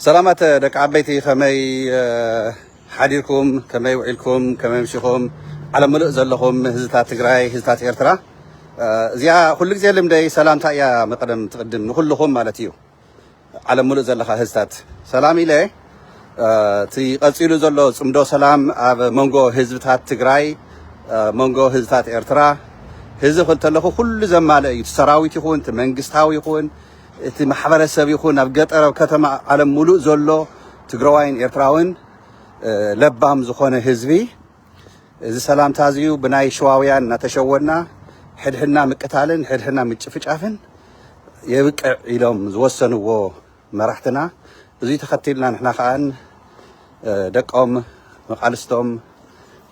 ሰላማት ደቂ ዓበይቲ ከመይ ሓዲርኩም ከመይ ውዒልኩም ከመይ ምሽኹም ዓለም ምሉእ ዘለኹም ህዝብታት ትግራይ ህዝብታት ኤርትራ እዚኣ ኩሉ ግዜ ልምደይ ሰላምታ እያ መቀደም ትቅድም ንኩልኹም ማለት እዩ ዓለም ምሉእ ዘለካ ህዝብታት ሰላም ኢለ እቲ ቀፂሉ ዘሎ ፅምዶ ሰላም ኣብ መንጎ ህዝብታት ትግራይ፣ መንጎ ህዝብታት ኤርትራ ህዝቢ ክልተለኹ ኩሉ ዘማልእ እዩ። እቲ ሰራዊት ይኹን እቲ መንግስታዊ ይኹን እቲ ማሕበረሰብ ይኹን ኣብ ገጠር ኣብ ከተማ ዓለም ሙሉእ ዘሎ ትግራዋይን ኤርትራውን ለባም ዝኾነ ህዝቢ እዚ ሰላምታ እዚዩ ብናይ ሽዋውያን እናተሸወድና ሕድሕድና ምቅታልን ሕድሕድና ምጭፍጫፍን የብቅዕ ኢሎም ዝወሰንዎ መራሕትና እዙይ ተኸቲልና ንሕና ከዓ ደቆም መቃልስቶም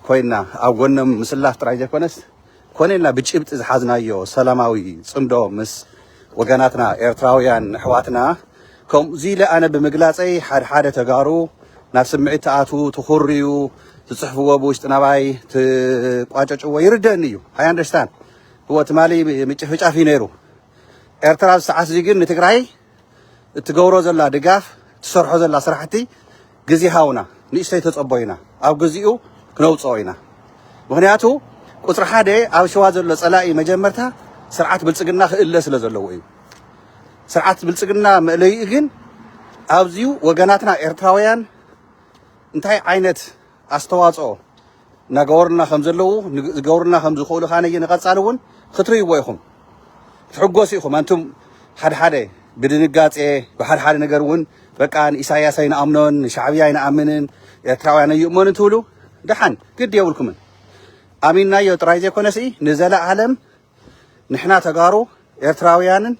ኮይና ኣብ ጎኖም ምስላፍ ጥራይ ዘይኮነስ ኮነ ኢልና ብጭብጢ ዝሓዝናዮ ሰላማዊ ፅምዶ ምስ ወገናትና ኤርትራውያን ኣሕዋትና ከምዚ ኢለ ኣነ ብምግላፀይ ሓድሓደ ተጋሩ ናብ ስምዒት ተኣትዉ ትኹርዩ ትፅሕፍዎ ብውሽጢ ናባይ ትቋጨጭዎ ይርደኒ እዩ ኣይ ኣንደርስታንድ እዎ ትማሊ ምጭፍጫፍ እዩ ነይሩ ኤርትራ ዝሰዓት እዚ ግን ንትግራይ እትገብሮ ዘላ ድጋፍ እትሰርሖ ዘላ ስራሕቲ ግዜ ሃውና ንእሽተይ ተፀቦ ኢና ኣብ ግዚኡ ክነውፅኦ ኢና ምክንያቱ ቁፅሪ ሓደ ኣብ ሸዋ ዘሎ ፀላኢ መጀመርታ ስርዓት ብልፅግና ክእለ ስለ ዘለዎ እዩ ስርዓት ብልፅግና መእለይኡ ግን ኣብዚዩ ወገናትና ኤርትራውያን እንታይ ዓይነት ኣስተዋጽኦ እናገበሩልና ከም ዘለዉ ዝገብሩልና ከም ዝኽእሉ ከኣ ንቐጻሊ እውን ክትርእይዎ ኢኹም ክትሕጎሱ ኢኹም ኣንቱም ሓድሓደ ብድንጋጼ ብሓድሓደ ነገር እውን በቃ ንኢሳያስ ኣይንኣምኖን ንሻዕብያ ኣይንኣምንን ኤርትራውያን ኣይእመኑን ትብሉ ደሓን ግዲ የብልኩምን ኣሚንናዮ ጥራይ ዘይኮነሲ ንዘለኣለም ንሕና ተጋሩ ኤርትራውያንን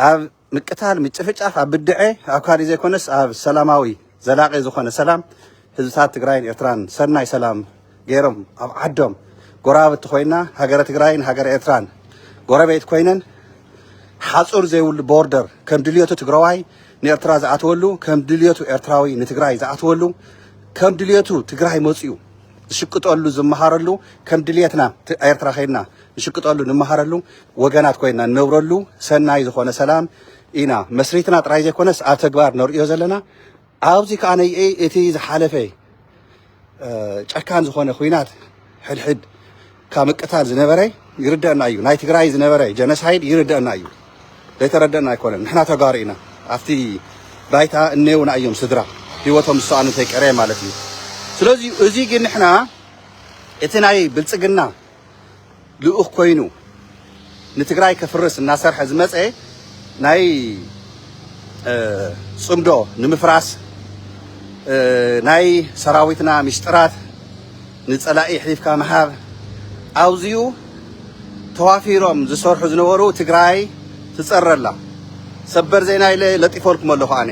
ኣብ ምቅታል ምጭፍጫፍ ኣብ ብድዐ ኣብ ካሊእ ዘይኮነስ ኣብ ሰላማዊ ዘላቂ ዝኾነ ሰላም ህዝብታት ትግራይን ኤርትራን ሰናይ ሰላም ገይሮም ኣብ ዓዶም ጎረባብቲ ኮይና ሃገረ ትግራይን ሃገረ ኤርትራን ጎረቤት ኮይነን ሓፁር ዘይብሉ ቦርደር ከም ድልየቱ ትግራዋይ ንኤርትራ ዝኣትወሉ ከም ድልየቱ ኤርትራዊ ንትግራይ ዝኣትወሉ ከም ድልየቱ ትግራይ መፅኡ ዝሽቅጠሉ ዝመሃረሉ ከም ድልየትና ኤርትራ ከይድና ንሽቅጠሉ ንመሃረሉ ወገናት ኮይና ንነብረሉ ሰናይ ዝኾነ ሰላም ኢና መስሪትና ጥራይ ዘይኮነስ ኣብ ተግባር ነርእዮ ዘለና ኣብዚ ከዓ ነይ እቲ ዝሓለፈ ጨካን ዝኾነ ኩናት ሕድሕድ ካብ ምቅታል ዝነበረ ይርደአና እዩ ናይ ትግራይ ዝነበረ ጀነሳይድ ይርደአና እዩ ዘይተረደአና ኣይኮነን ንሕና ተጋሩ ኢና ኣብቲ ባይታ እነየውና እዮም ስድራ ህይወቶም ዝሰኣኑ እንተይቀረየ ማለት እዩ ስለዚ እዚ ግን ንሕና እቲ ናይ ብልፅግና ልኡኽ ኮይኑ ንትግራይ ከፍርስ እናሰርሐ ዝመፀ ናይ ፅምዶ ንምፍራስ ናይ ሰራዊትና ሚስጥራት ንፀላኢ ሒፍካ ምሃብ ኣውዚኡ ተዋፊሮም ዝሰርሑ ዝነበሩ ትግራይ ትፀረ ኣላ ሰበር ዜና ኢለ ለጢፈልኩም ኣለኹ ኣነ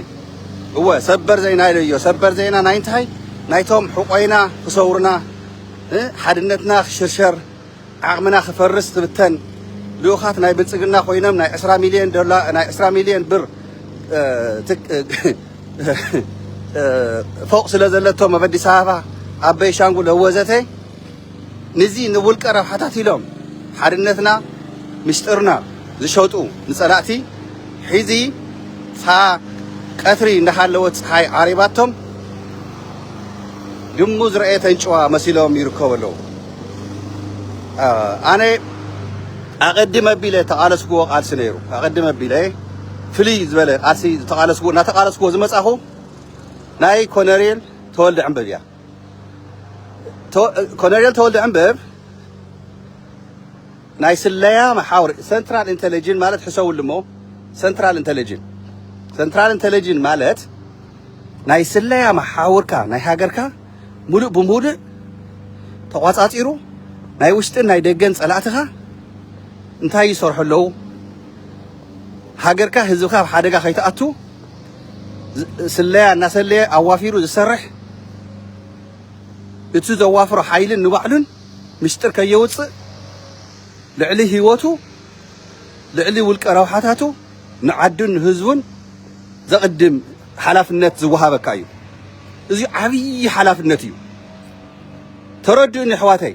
እወ ሰበር ዜና ኢለዮ ሰበር ዜና ናይ እንታይ ናይቶም ሕቆይና ክሰውሩና ሓድነትና ክሽርሸር ዓቕምና ክፈርስ ክብተን ልኡኻት ናይ ብልፅግና ኮይኖም ናይ ዕስራ ሚልዮን ዶላር ናይ ዕስራ ሚልዮን ብር ፎቅ ስለ ዘለቶም ኣብ ኣዲስ ኣበባ ኣብ ቤንሻንጉል ወዘተ ንዚ ንውልቀ ረብሓታት ኢሎም ሓድነትና ምስጢርና ዝሸጡ ንፀላእቲ ሒዚ ፋ ቀትሪ እንዳሃለወት ፀሓይ ዓሪባቶም ድሙ ዝረኣየት ኣንጭዋ መሲሎም ይርከቡ ኣለዉ። ኣነ ኣቐድም ኣቢለ ተቓለስክዎ ቃልሲ ነይሩ ኣቐድም ኣቢለ ፍልይ ዝበለ ቃልሲ ዝተቓለስክዎ እናተቓለስክዎ ዝመፃኹ ናይ ኮነሬል ተወልደ ዕንበብ እያ ኮነሬል ተወልደ ዕንበብ ናይ ስለያ መሓውር ሰንትራል እንተለጅን ማለት ሕሰውሉ እሞ ሰንትራል እንተለጅን ሰንትራል እንተለጅን ማለት ናይ ስለያ መሓውርካ ናይ ሃገርካ ሙሉእ ብሙሉእ ተቋጻጺሩ ናይ ውሽጥን ናይ ደገን ጸላእትኻ እንታይ ይሰርሑ ኣለዉ ሃገርካ ህዝብካ ኣብ ሓደጋ ከይትኣቱ ስለያ እናሰለየ ኣዋፊሩ ዝሰርሕ እቲ ዘዋፍሮ ሓይልን ንባዕሉን ሚስጥር ከየውጽእ ልዕሊ ህይወቱ ልዕሊ ውልቀ ረብሓታቱ ንዓዱን ንህዝቡን ዘቕድም ሓላፍነት ዝወሃበካ እዩ። እዚ ዓብዪ ሓላፍነት እዩ። ተረድኡኒ ኣሕዋተይ።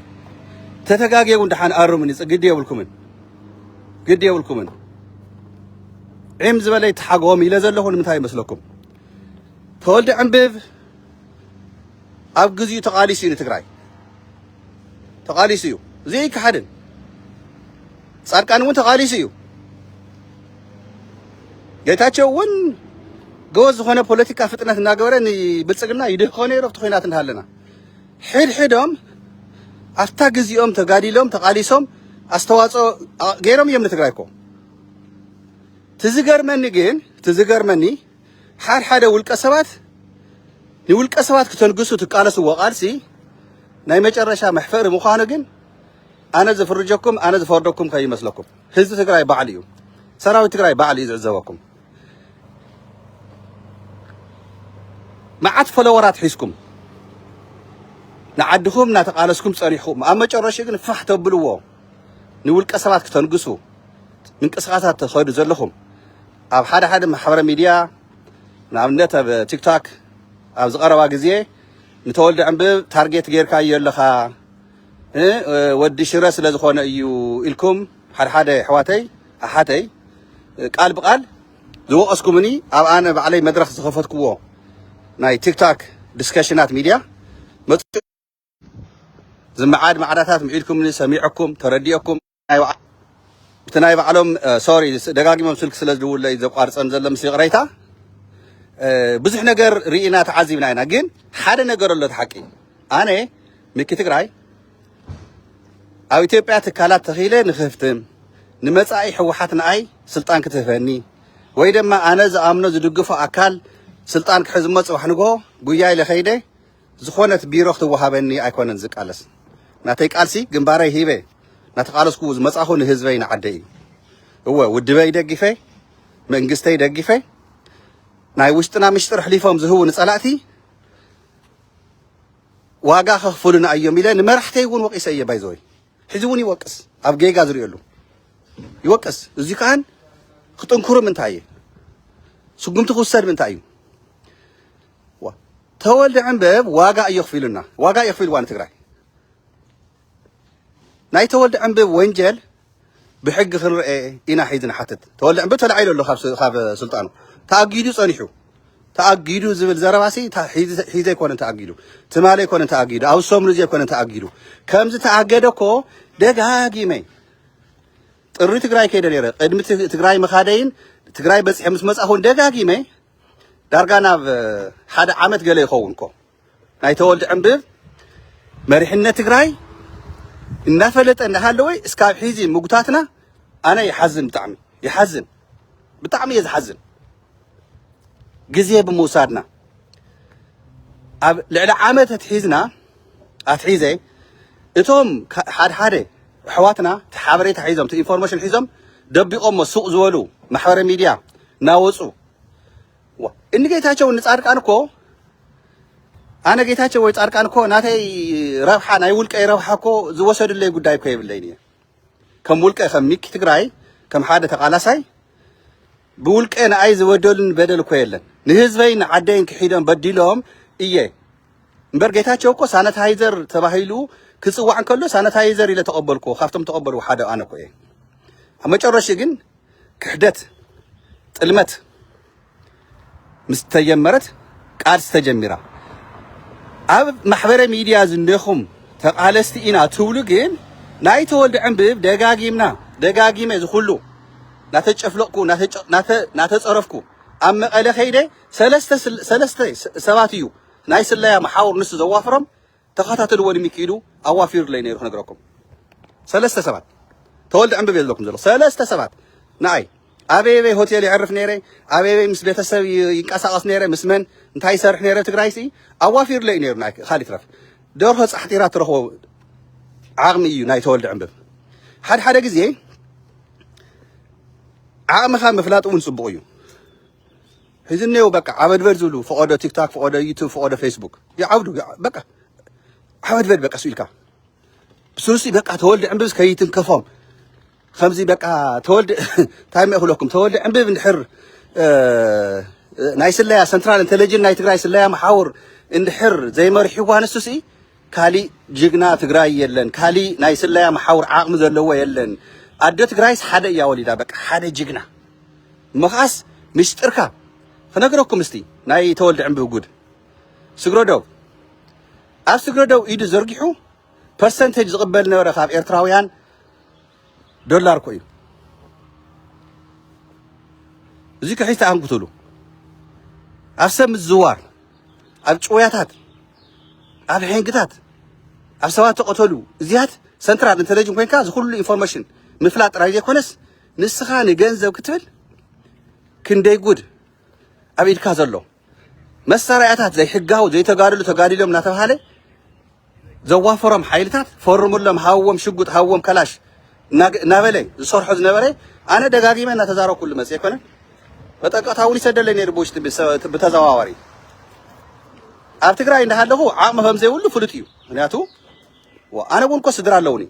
ተተጋግየ እውን ደሓን ኣርሙኒ፣ ግዲ የብልኩምን ግዲ የብልኩምን። ዒም ዝበለ ይተሓጎም ኢለ ዘለኹ ንምንታይ ይመስለኩም? ተወልደ ዕንብብ ኣብ ግዚኡ ተቃሊሱ እዩ ንትግራይ ተቃሊሱ እዩ እዚ ኣይከሓድን ጻድቃን እውን ተቃሊሱ እዩ ጌታቸው እውን ገወዝ ዝኾነ ፖለቲካ ፍጥነት እናገበረ ንብልፅግና ይድህቆ ነይሩ ኣብቲ ኩናት እንዳሃለና ሕድሕዶም ኣብታ ግዚኦም ተጋዲሎም ተቃሊሶም ኣስተዋፅኦ ገይሮም እዮም ንትግራይ እኮ ትዝገርመኒ ግን ትዝገርመኒ ሓድሓደ ውልቀሰባት ንውልቀሰባት ክተንግሱ ትቃለስዎ ቃልሲ ናይ መጨረሻ መሕፈሪ ምዃኑ ግን ኣነ ዝፍርጀኩም ኣነ ዝፈርደኩም ከይመስለኩም ህዝቢ ትግራይ ባዕሉ እዩ ሰራዊት ትግራይ ባዕሉ እዩ ዝዕዘበኩም መዓት ፈለወራት ሒዝኩም ንዓድኹም እናተቃለስኩም ፀኒሕኩም ኣብ መጨረሽኡ ግን ፋሕ ተብልዎ ንውልቀ ሰባት ክተንግሱ ምንቅስቃሳት ተኸዱ ዘለኹም ኣብ ሓደ ሓደ ማሕበረ ሚድያ ንኣብነት ኣብ ቲክታክ ኣብዚ ቀረባ ግዜ ንተወልደ ዕንብብ ታርጌት ጌርካዮ ኣለኻ እ ወዲ ሽረ ስለ ዝኾነ እዩ ኢልኩም ሓደ ሓደ ኣሕዋተይ ኣሓተይ ቃል ብቃል ዝወቀስኩምኒ ኣብ ኣነ ባዕለይ መድረኽ ዝኸፈትክዎ ናይ ቲክታክ ዲስከሽናት ሚድያ መጽ ዝመዓድ ማዕዳታት ምዒድኩምኒ ሰሚዐኩም ተረዲኦኩም እቲ ናይ ባዕሎም ሶሪ ደጋጊሞም ስልክ ስለ ዝድውለይ ዘቋርፀም ዘሎ ምስ ይቕረይታ ብዙሕ ነገር ርኢና ተዓዚብና ኢና ግን ሓደ ነገር ኣሎ ሓቂ ኣነ ምኪ ትግራይ ኣብ ኢትዮጵያ ትካላት ተኺለ ንክህፍትም ንመጻኢ ህወሓት ንኣይ ስልጣን ክትህበኒ ወይ ድማ ኣነ ዝኣምኖ ዝድግፎ ኣካል ስልጣን ክሕዝሞ ጽባሕ ንግሆ ጉያ ኢለ ኸይደ ዝኾነት ቢሮ ክትወሃበኒ ኣይኮነን ዝቃለስ ናተይ ቃልሲ ግንባረይ ሂበ ናተቃለስኩ ዝመጻኹ ንህዝበይ ንዓደይ እዩ እወ ውድበይ ደጊፈ መንግስተይ ደጊፈ ናይ ውሽጥና ምሽጥር ኣሕሊፎም ዝህቡ ንጸላእቲ ዋጋ ከኽፍሉና እዮም ኢለ ንመራሕተይ እውን ወቂሰ እየ ባይዘወይ ሕዚ እውን ይወቅስ ኣብ ጌጋ ዝርእየሉ ይወቅስ እዚ ከዓን ክጥንክሩ ምንታይ እየ ስጉምቲ ክውሰድ ምንታይ እዩ ተወልደ ዕንበብ ዋጋ እዩ ኣኽፊሉና፣ ዋጋ እዩ ኣኽፊልዋ ንትግራይ። ናይ ተወልደ ዕንበብ ወንጀል ብሕጊ ክንርኤ ኢና ሒዚ ንሓትት። ተወልደ ዕንበብ ተላዒሉ ኣሎ ካብ ስልጣኑ ተኣጊዱ ጸኒሑ ተኣጊዱ ዝብል ዘረባሲ ሒዘ ኣይኮነን ተኣጊዱ፣ ትማሊ ኣይኮነን ተኣጊዱ፣ ኣብ ሰሙን እዚ ኣይኮነን ተኣጊዱ። ከምዚ ተኣገደ እኮ ደጋጊመ ጥሪ ትግራይ ከይደ ነይረ ቅድሚ ትግራይ ምኻደይን ትግራይ በፂሐ ምስ መፃኹን ደጋጊመ ዳርጋ ናብ ሓደ ዓመት ገለ ይኸውን እኮ ናይ ተወልደ ዕንብብ መሪሕነት ትግራይ እናፈለጠ እናሃለወ እስካብ ሒዚ ምጉታትና ኣነ ይሓዝን ብጣዕሚ ይሓዝን ብጣዕሚ እየ ዝሓዝን ግዜ ብምውሳድና ኣብ ልዕሊ ዓመት ኣትሒዝና ኣትሒዘ እቶም ሓድሓደ ኣሕዋትና እቲ ሓበሬታ ሒዞም እቲ ኢንፎርሜሽን ሒዞም ደቢቖሞ ሱቕ ዝበሉ ማሕበረ ሚድያ ናወፁ እኒ ጌታቸው እኒ ፃድቃን እኮ ኣነ ጌታቸው ወይ ፃድቃን እኮ ናተይ ረብሓ ናይ ውልቀይ ረብሓ እኮ ዝወሰድለይ ጉዳይ እኮ የብለይን እየ ከም ውልቀ ከም ሚኪ ትግራይ ከም ሓደ ተቃላሳይ ብውልቀ ንኣይ ዝበደሉን በደል እኮ የለን ንህዝበይ ንዓደይን ክሒዶም በዲሎም እየ እምበር ጌታቸው እኮ ሳነታይዘር ተባሂሉ ክፅዋዕ እንከሎ ሳነታይዘር ኢለ ተቐበልኩ ካብቶም ተቐበሉ ሓደ ኣነ እኮ እየ ኣብ መጨረሽ ግን ክሕደት ጥልመት ምስ ተጀመረት ቃልሲ ተጀሚራ ኣብ ማሕበረ ሚድያ ዝኔኹም ተቓለስቲ ኢና ትብሉ ግን ናይ ተወልደ ዕንብብ ደጋጊምና ደጋጊመ ዝኹሉ ናተጨፍለቕኩ ናተፀረፍኩ ኣብ መቐለ ከይደ ሰለስተ ሰባት እዩ ናይ ስለያ መሓውር ንሱ ዘዋፍሮም ተኻታተልዎ ንሚኪ ኢሉ ኣዋፊሩለይ ነይሩ ክነግረኩም ሰለስተ ሰባት ተወልደ ዕንብብ እየ ዝብለኩም ዘሎ ሰለስተ ሰባት ንኣይ ኣበየበይ ሆቴል የዕርፍ ነይረ ኣበየበይ ምስ ቤተሰብ ይንቀሳቐስ ነይረ ምስ መን እንታይ ይሰርሕ ነይረ ትግራይ ሲ ኣዋፊሩለይ እዩ ነይሩ ንኣይ ካል ይትረፍ ደርሆ ፃሕጢራ ትረኽቦ ዓቕሚ እዩ ናይ ተወልደ ዕንብብ ሓድሓደ ግዜ ዓቕምኻ ምፍላጥ እውን ፅቡቕ እዩ ሕዚ እኔዉ በቃ ዓበድበድ ዝብሉ ፈቆዶ ቲክታክ ፈቆዶ ዩቱብ ፈቆዶ ፌስቡክ ይዓብዱ በቃ ዓበድበድ በቃ እሱ ኢልካ ብስሩሲ በቃ ተወልደ ዕምብብስ ከይትንከፎም ከምዚ በቃ ተወልደ እንታይ መ ክብለኩም ተወልደ ዕምብብ እንድሕር ናይ ስለያ ሰንትራል ኢንተለጅን ናይ ትግራይ ስለያ መሓውር እንድሕር ዘይመሪሕዋ ንሱሲ ካሊእ ጅግና ትግራይ የለን ካሊእ ናይ ስለያ መሓውር ዓቅሚ ዘለዎ የለን ኣደ ትግራይስ ሓደ እያ ወሊዳ በቃ ሓደ ጅግና እሞ ከዓስ ሚስጥርካ ክነግረኩም እስቲ ናይ ተወልደ ዕንብብ ጉድ ስግረዶብ ኣብ ስግረዶብ ኢዱ ዘርጊሑ ፐርሰንቴጅ ዝቕበል ነበረ ካብ ኤርትራውያን ዶላር ኮ እዩ እዚ ክሒስ ተኣንግትሉ ኣብ ሰብ ምዝዋር ኣብ ጭውያታት ኣብ ሕንግታት ኣብ ሰባት ተቐተሉ እዚያት ሰንትራል ኢንተለጅን ኮንካ እዚ ኩሉ ኢንፎርሜሽን ምፍላጥ ጥራይ ዘይኮነስ ንስኻ ንገንዘብ ክትብል ክንደይ ጉድ ኣብ ኢድካ ዘሎ መሳርያታት ዘይሕጋዊ ዘይተጋድሉ ተጋዲሎም እናተባሃለ ዘዋፈሮም ሓይልታት ፈርሙሎም ሃዎም ሽጉጥ ሃዎም ከላሽ እናበለ ዝሰርሖ ዝነበረ ኣነ ደጋጊመ እናተዛረኩሉ መፅ ኮነ መጠንቀቕታ እውን ይሰደለይ ነይሩ ብውሽጢ ብተዘዋዋሪ ኣብ ትግራይ እንዳሃለኹ ዓቕሚ ከም ዘይብሉ ፍሉጥ እዩ ምክንያቱ ኣነ እውን እኮ ስድራ ኣለውኒ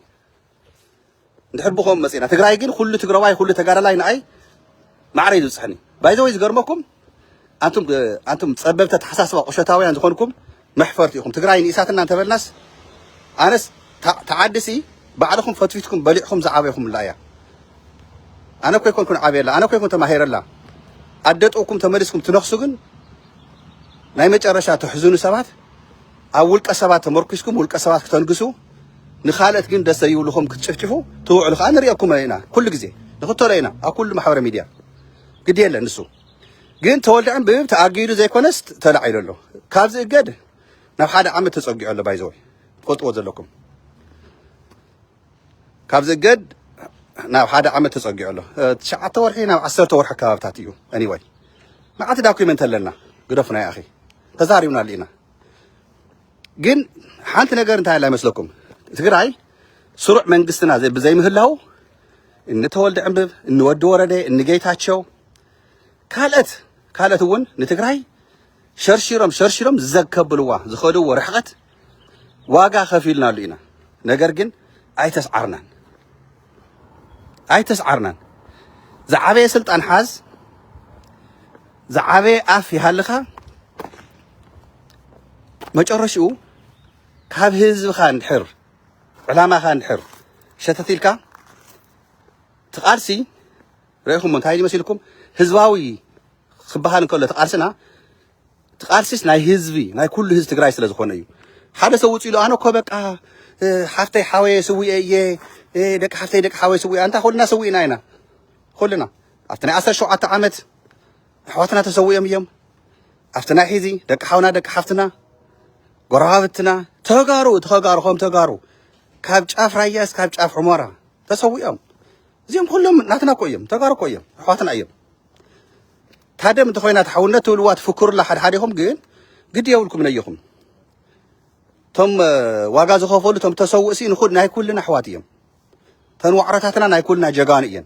እንድሕር ብከምኡ መፂእና ትግራይ ግን ኩሉ ትግራዋይ ኩሉ ተጋዳላይ ንኣይ ማዕረ እዩ ዝብፅሐኒ ባይዘወይ ዝገርመኩም ኣንቱም ኣንቱም ፀበብቲ ኣተሓሳስባ ቁሸታውያን ዝኾንኩም መሕፈርቲ ኢኹም ትግራይ ንኢሳትና እንተበልናስ ኣነስ ተዓድሲ ባዕልኹም ፈትፊትኩም በሊዕኹም ዝዓበይኹምላ እያ ኣነ እኮ ይኮንኩን ዓብየላ ኣነ እኮ ይኮን ተማሂረላ ኣደጥውኩም ተመሊስኩም ትነኽሱ ግን ናይ መጨረሻ ተሕዝኑ ሰባት ኣብ ውልቀ ሰባት ተመርኲስኩም ውልቀ ሰባት ክተንግሱ ንኻልኦት ግን ደስ ዘይብልኹም ክትጭፍጭፉ ትውዕሉ ከዓ ንሪኦኩም ኢና ኩሉ ግዜ ንኽተሎ ኢና ኣብ ኩሉ ማሕበረ ሚድያ ግዲ የለን ንሱ ግን ተወልደ ዕንብብ ተኣጊዱ ዘይኮነስ ተላዒሉ ኣሎ ካብዚ እገድ ናብ ሓደ ዓመት ተፀጊዑ ኣሎ ባይዘወይ ትፈልጥዎ ዘለኩም ካብዚ እገድ ናብ ሓደ ዓመት ተፀጊዑ ኣሎ ትሽዓተ ወርሒ ናብ ዓሰርተ ወርሒ ኣከባብታት እዩ ኣኒወይ መዓልቲ ዳኩመንት ኣለና ግደፉና ይኣኺ ተዛሪብናሉ ኢና ግን ሓንቲ ነገር እንታይ ኣላ ይመስለኩም ትግራይ ስሩዕ መንግስትና ዘይ- ብዘይምህላው እኒ ተወልደ ዕንብብ እኒ ወዲ ወረደ እኒ ጌታቸው ካልኦት ካልኦት እውን ንትግራይ ሸርሺሮም ሸርሺሮም ዘከብልዋ ዝኸድዎ ርሕቐት ዋጋ ከፊልናሉ ኢና ነገር ግን ኣይተስዓርናን ኣይተስዓርናን ዝዓበየ ስልጣን ሓዝ ዝዓበየ ኣፍ ይሃልኻ መጨረሽኡ ካብ ህዝብኻ እንድሕር ዕላማኻ እንድሕር ሸተት ኢልካ ትቓልሲ ረኢኹም እንታይ ይመስልኩም ህዝባዊ ክበሃል እንከሎ ተቓልስና እቲ ቃልሲስ ናይ ህዝቢ ናይ ኩሉ ህዝቢ ትግራይ ስለ ዝኾነ እዩ። ሓደ ሰብ ውፅእ ኢሉ ኣነ እኮ በቃ ሓፍተይ ሓወየ ስዊኤ እየ ደቂ ሓፍተይ ደቂ ሓወየ ስዊኤ ኣንታ ኩልና ሰዊእና ኢና ኩልና ኣብቲ ናይ ዓሰርተ ሸውዓተ ዓመት ኣሕዋትና ተሰዊኦም እዮም ኣብቲ ናይ ሕዚ ደቂ ሓውና ደቂ ሓፍትና ጎረባብትና ተጋሩ እቲ ከጋሩ ከም ተጋሩ ካብ ጫፍ ራያ እስካብ ጫፍ ሑመራ ተሰዊኦም እዚኦም ኩሎም ናትና እኮ እዮም ተጋሩ እኮ እዮም ኣሕዋትና እዮም ታደም እንተኾይና ተሓውነት ትብልዋ ትፍክሩላ ሓድሓዲኹም ግን ግድ የብልኩም ነይኹም እቶም ዋጋ ዝኸፈሉ እቶም ተሰውእ ሲ ንኹል ናይ ኩልና ኣሕዋት እዮም ተን ዋዕሮታትና ናይ ኩልና ጀጋኑ እየን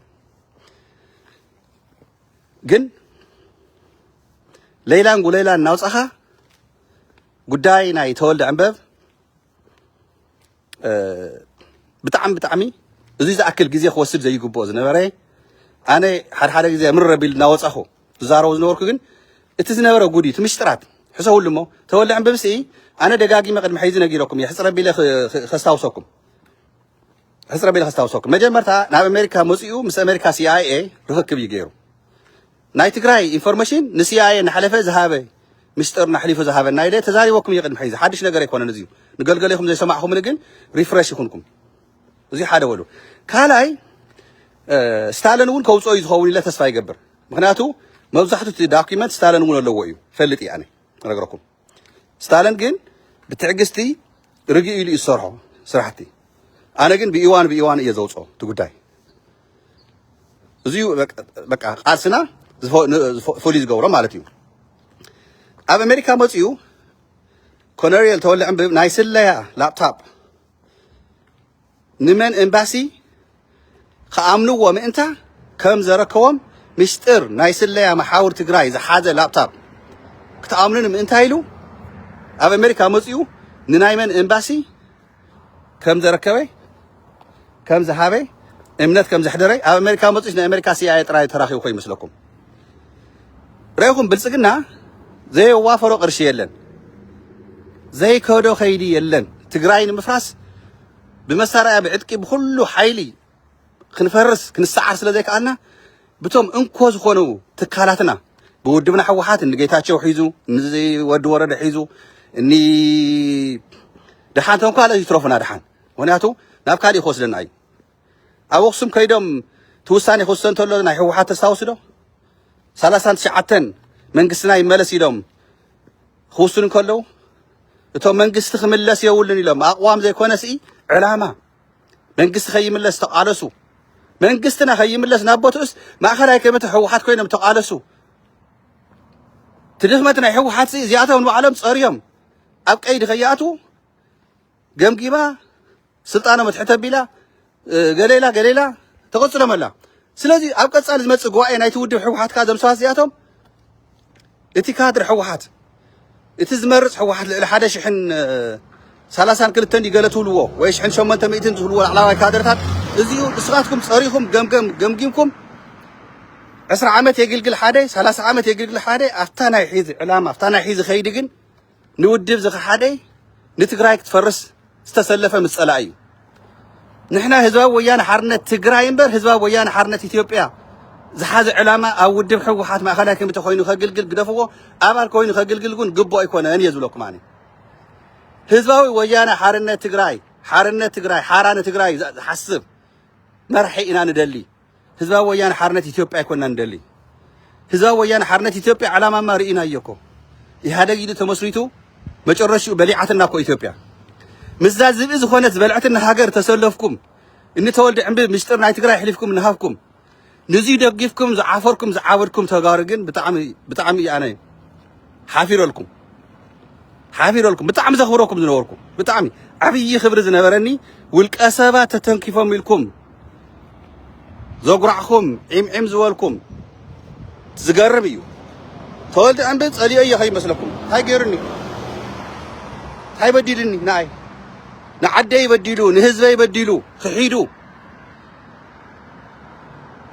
ግን ለይላን ጉለይላን እናውፃኻ ጉዳይ ናይ ተወልደ ዕንበብ ብጣዕሚ ብጣዕሚ እዙይ ዝኣክል ግዜ ክወስድ ዘይግብኦ ዝነበረ ኣነ ሓድሓደ ግዜ ምረ ቢል እናወፃኹ ዝዛረቦ ዝነበርኩ ግን እቲ ዝነበረ ጉድ እዩ እቲ ምስጢራት ሕሰብሉ እሞ ተወልዐን ብምስኢ ኣነ ደጋጊመ ቅድሚ ሕዚ ነጊረኩም እየ ሕፅረ ቢለ ከስታውሰኩም ሕጽረ ቢለ ከስታውሰኩም መጀመርታ ናብ ኣሜሪካ መጺኡ ምስ ኣሜሪካ ሲኣይኤ ርኽክብ እዩ ገይሩ ናይ ትግራይ ኢንፎርሜሽን ንሲኣይኤ እናሓለፈ ዝሃበ ምስጢርና ኣሕሊፉ ዝሃበና ኢለ ተዛሪበኩም እየ ቅድሚ ሕዚ ሓድሽ ነገር ኣይኮነን እዚዩ ንገልገሌኹም ዘይሰማዕኹምኒ ግን ሪፍረሽ ይኹንኩም እዚዩ ሓደ በሉ ካልኣይ ስታልን እውን ከውፅኦ እዩ ዝኸውን ኢለ ተስፋ ይገብር ምክንያቱ መብዛሕቱ እቲ ዳኪመንት ስታልን እውን ኣለዎ እዩ ፈልጥ እየ ኣነ ነግረኩም ስታልን ግን ብትዕግስቲ ርግእ ኢሉ እዩ ዝሰርሖ ስራሕቲ ኣነ ግን ብኢዋን ብኢዋን እየ ዘውፅኦ እቲ ጉዳይ እዚዩ በቃ ቃልስና ፍሉይ ዝገብሮ ማለት እዩ ኣብ ኣሜሪካ መፅኡ ኮነሪየል ተወልዐ ናይ ስለያ ላፕታፕ ንመን ኤምባሲ ክኣምንዎ ምእንታ ከም ዘረከቦም ምስጢር ናይ ስለያ መሓውር ትግራይ ዝሓዘ ላፕታፕ ክትኣምኑኒ ምእንታ ኢሉ ኣብ ኣሜሪካ መፅኡ ንናይ መን ኤምባሲ ከም ዘረከበ ከም ዝሃበ እምነት ከም ዘሕደረ ኣብ ኣሜሪካ መፅኡስ ናይ ኣሜሪካ ሲኣይኤ ጥራይ ተራኺቡ ኮይኑ ይመስለኩም? ረኢኹም ብልፅግና ዘየዋፈሮ ቅርሺ የለን፣ ዘይከዶ ከይዲ የለን። ትግራይ ንምፍራስ ብመሳርያ ብዕጥቂ ብኩሉ ሓይሊ ክንፈርስ ክንሰዓር ስለ ዘይከኣልና ብቶም እንኮ ዝኾኑ ትካላትና ብውድብና ህወሓት እኒ ጌታቸው ሒዙ እኒ ወዲ ወረደ ሒዙ እኒ ድሓን ተንኳለ ይትረፉና ድሓን ምክንያቱ ናብ ካሊእ ክወስደና እዩ። ኣብ ኣክሱም ከይዶም እቲ ውሳኔ ክውሰን ተሎ ናይ ህወሓት ተስታውሱ ዶ ሰላሳን ትሽዓተን መንግስትና ይመለስ ኢሎም ክውስኑ ከለው እቶም መንግስቲ ክምለስ የብሉን ኢሎም ኣቕዋም ዘይኮነስ ዕላማ መንግስቲ ከይምለስ ተቓለሱ መንግስትና ከይምለስ ናብ ቦትኡስ ማእኸላይ ኮሚቴ ህወሓት ኮይኖም ተቓለሱ እቲ ድኽመት ናይ ህወሓት እዚኣቶም ንባዕሎም ፀርዮም ኣብ ቀይዲ ከይኣትዉ ገምጊማ ስልጣኖም ኣትሕት ኣቢላ ገለ ኢላ ገለ ኢላ ተቐጽሎም ኣላ። ስለዚ ኣብ ቀጻሊ ዝመጽእ ጉባኤ ናይቲ ውድብ ህወሓት ከዓ እዞም ሰባት እዚኣቶም እቲ ካድር ህወሓት እቲ ዝመርፅ ህወሓት ልዕሊ ሓደ ሽሕን ሰላሳን ክልተን ድዩ ገለ ትብልዎ ወይ ሽሕን ሸሞንተ ሚእትን ዝብልዎ ላዕላዋይ ካድርታት እዚኡ ንስኻትኩም ፀሪኹም ገምገም ገምጊምኩም ዕስራ ዓመት የግልግል ሓደ ሰላሳ ዓመት የግልግል ሓደ ኣብታ ናይ ሒዚ ዕላማ ኣብታ ናይ ሒዚ ከይዲ ግን ንውድብ ዝኸሓደ ንትግራይ ክትፈርስ ዝተሰለፈ ምስ ፀላኢ እዩ። ንሕና ህዝባዊ ወያነ ሓርነት ትግራይ እምበር ህዝባዊ ወያነ ሓርነት ኢትዮጵያ ዝሓዘ ዕላማ ኣብ ውድብ ህወሓት ማእኸላይ ኮሚቴ ኮይኑ ከግልግል ግደፍዎ ኣባል ኮይኑ ከግልግል እውን ግቡእ ኣይኮነን እየ ዝብለኩም ኣነ። ህዝባዊ ወያነ ሓርነት ትግራይ ሓርነት ትግራይ ሓራ ንትግራይ ዝሓስብ መራሒ ኢና ንደሊ። ህዝባዊ ወያነ ሓርነት ኢትዮጵያ ኣይኮንና ንደሊ። ህዝባዊ ወያነ ሓርነት ኢትዮጵያ ዕላማማ ርኢናዮ እኮ። ኢህኣደግ ኢሉ ተመስሪቱ መጨረሽኡ በሊዓትና እኮ ኢትዮጵያ። ምስዛ ዝብኢ ዝኾነት ዝበልዐትና ሃገር ተሰለፍኩም እኒ ተወልደ ዕንብብ ምስጢር ናይ ትግራይ ኣሕሊፍኩም ንሃብኩም። ንዙይ ደጊፍኩም ዝዓፈርኩም ዝዓበድኩም ተጋሩ ግን ብጣዕሚ ብጣዕሚ እዩ ኣነ ሓፊረልኩም ሓፊረልኩም ብጣዕሚ ዘኽብረኩም ዝነበርኩ ብጣዕሚ ዓብዪ ክብሪ ዝነበረኒ ውልቀ ሰባት ተተንኪፎም ኢልኩም ዘጉራዕኩም ዒም ዒም ዝበልኩም ዝገርም እዩ። ተወልደ ዕንበ ጸሊኦ እየ ከይመስለኩም እንታይ ገይሩኒ እንታይ በዲሉኒ ንኣይ ንዓደይ በዲሉ ንህዝበይ በዲሉ ክሒዱ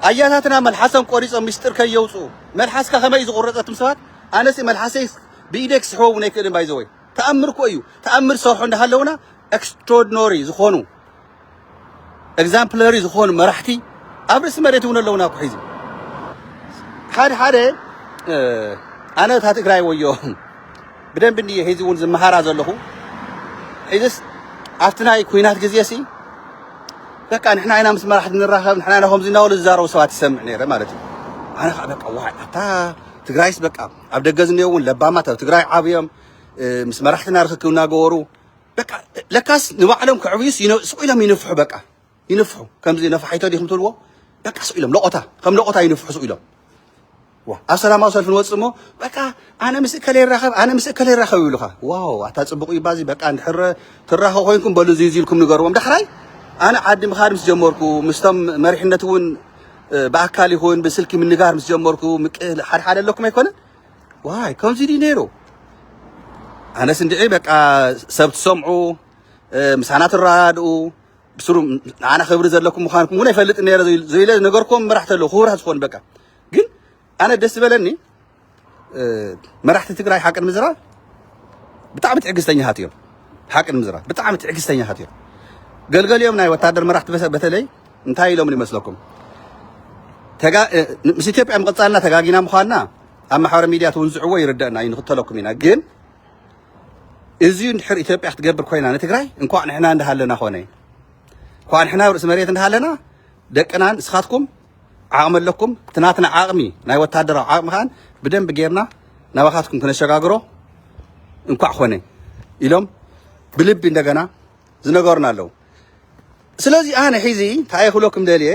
ኣያታትና መልሓሰም ቆሪጾም ምስጢር ከየውፅኡ መልሓስካ ከመይ ዝቑረፀትም ሰባት ኣነሲ መልሓሰይ ብኢደይ ክስሕቦ እውን ኣይክእልን ባይዘወይ ተኣምር እኮ እዩ ተኣምር ዝሰርሑ እንዳሃለውና ኤክስትሮድኖሪ ዝኾኑ ኤግዛምፕለሪ ዝኾኑ መራሕቲ ኣብ ርእሲ መሬት እውን ኣለውና እኮ ሒዚ ሓደ ሓደ ኣነ እታ ትግራይ ወዮ ብደንብ እንድየ ሒዚ እውን ዝመሃራ ዘለኹ ሒዚስ ኣብቲ ናይ ኩናት ግዜ ሲ በቃ ንሕና ኢና ምስ መራሕቲ ንራኸብ ንሕና ኢና ከምዚ እናበሉ ዝዛረቡ ሰባት ይሰምዕ ነይረ ማለት እዩ ኣነ ከዓ በቃ ዋይ ኣታ ትግራይስ በቃ ኣብ ደገ ዝኔ እውን ለባማት ኣብ ትግራይ ዓብዮም ምስ መራሕትና ርክክብ እናገበሩ በቃ ለካስ ንባዕሎም ከዕብዩስ ይነ- ስቕ ኢሎም ይንፍሑ በቃ ይንፍሑ ከምዚ ነፋሒቶ ዲኹም ትብልዎ በቃ ስቕ ኢሎም ለቖታ ከም ለቖታ ይንፍሑ ስቕ ኢሎም ዋ ኣብ ሰላማዊ ሰልፊ ንወፅእ እሞ በቃ ኣነ ምስ እከለ ይራኸብ ኣነ ምስ እከለ ይራኸብ ይብሉኻ ዋው ኣታ ፅቡቕ እዩ ባዚ በቃ እንድሕረ ትራኸ ኮይንኩም በሉ እዚ እዚ ኢልኩም ንገርዎም ዳሕራይ ኣነ ዓዲ ምኻድ ምስ ጀመርኩ ምስቶም መሪሕነት እውን እ፣ ብኣካል ይኹን ብስልኪ ምንጋር ምስ ጀመርኩ ምቅ- ሓድሓደ ኣለኩም ኣይኮነን ዋይ ከምዚ ድዩ ነይሩ ኣነስ እንድዒ በቃ ሰብ ትሰምዑ ምሳና ትረዳድኡ ብስሩ ንዓና ክብሪ ዘለኩም ምዃንኩም እውን ኣይፈልጥን ነረ ዘኢለ ነገርኩም መራሕቲ ኣለዉ ክቡራት ዝኾኑ በቃ ግን ኣነ ደስ ዝበለኒ መራሕቲ ትግራይ ሓቂ ንምዝራብ ብጣዕሚ ትዕግስተኛታት እዮም ሓቂ ንምዝራብ ብጣዕሚ ትዕግስተኛታት እዮም ገልገሊኦም ናይ ወታደር መራሕቲ በተለይ እንታይ ኢሎምኒ ይመስለኩም ምስ ኢትዮጵያ ምቕፃልና ተጋጊና ምዃንና ኣብ ማሕበረ ሚድያ ትውንዝዕዎ ይርደእና እዩ ንኽተለኩም ኢና ግን እዚዩ እንድሕር ኢትዮጵያ ክትገብር ኮይና ንትግራይ እንኳዕ ንሕና እንዳሃለና ኮነ እንኳዕ ንሕና ርእሲ መሬት እንዳሃለና ደቅናን እስኻትኩም ዓቕሚ ኣለኩም እቲ ናትና ዓቕሚ ናይ ወታደራዊ ዓቕሚ ከዓን ብደንብ ጌርና ናባኻትኩም ክነሸጋግሮ እንኳዕ ኮነ ኢሎም ብልቢ እንደገና ዝነገሩና ኣለዉ ስለዚ ኣነ ሒዚ እንታይ ክብለኩም ደልየ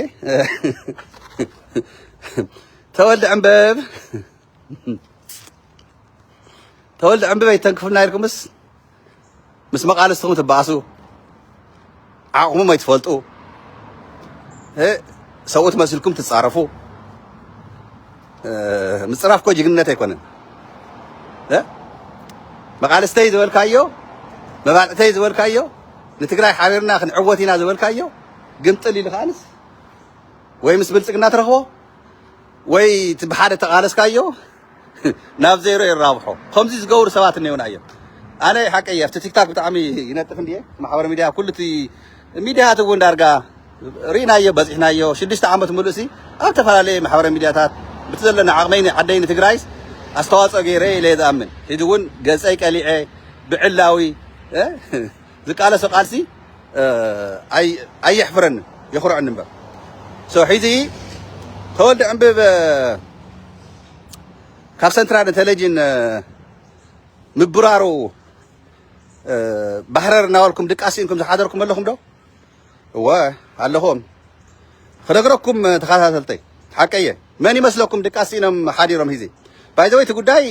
ተወልደ ዕንበብ ተወልደ ዕንበብ ኣይተንክፉና ኢልኩምስ ምስ መቃልስትኹም ትበኣሱ ዓቕሞም ኣይትፈልጡ ሰብኡት መስልኩም ትፃረፉ ምፅራፍ እኮ ጅግንነት ኣይኮነን። መቃልስተይ ዝበልካዮ መባልዕተይ ዝበልካዮ ንትግራይ ሓቢርና ክንዕወት ኢና ዝበልካዮ ግምጥል ኢሉ ከዓንስ ወይ ምስ ብልፅግና ትረኽቦ ወይ እቲ ብሓደ ተቃለስካዮ ናብ ዜሮ ይራብሖ ከምዚ ዝገብሩ ሰባት እኔውና እዮም ኣነ ሓቀይ ኣብቲ ቲክታክ ብጣዕሚ ይነጥፍ እንድየ ማሕበረ ሚድያ ኩሉ እቲ ሚድያት እውን ዳርጋ ሪኢናዮ በጺሕናዮ ሽዱሽተ ዓመት ምሉእሲ ኣብ ተፈላለየ ማሕበራዊ ሚድያታት ብቲ ዘለኒ ዓቕመይ ንዓደይ ንትግራይስ ኣስተዋጽኦ ገይረ ኢለየ ዝኣምን ሕጂ እውን ገጸይ ቀሊዐ ብዕላዊ ዝቃለሶ ቃልሲ ኣየሕፍረንን የኹርዐኒ እምበር ሶ ሕጂ ተወልደ ዕንብብ ካብ ሰንትራል እንተለጅን ምብራሩ ባህረር እናበልኩም ድቃስ ስኢንኩም ዝሓደርኩም ኣለኹም ዶ እወ ኣለኹም ኽነግረኩም ተኸታተልተይ ሓቀየ መን ይመስለኩም ድቃስ ሲኢኖም ሓዲሮም ሂዚ ባይዘወይ እቲ ጉዳይ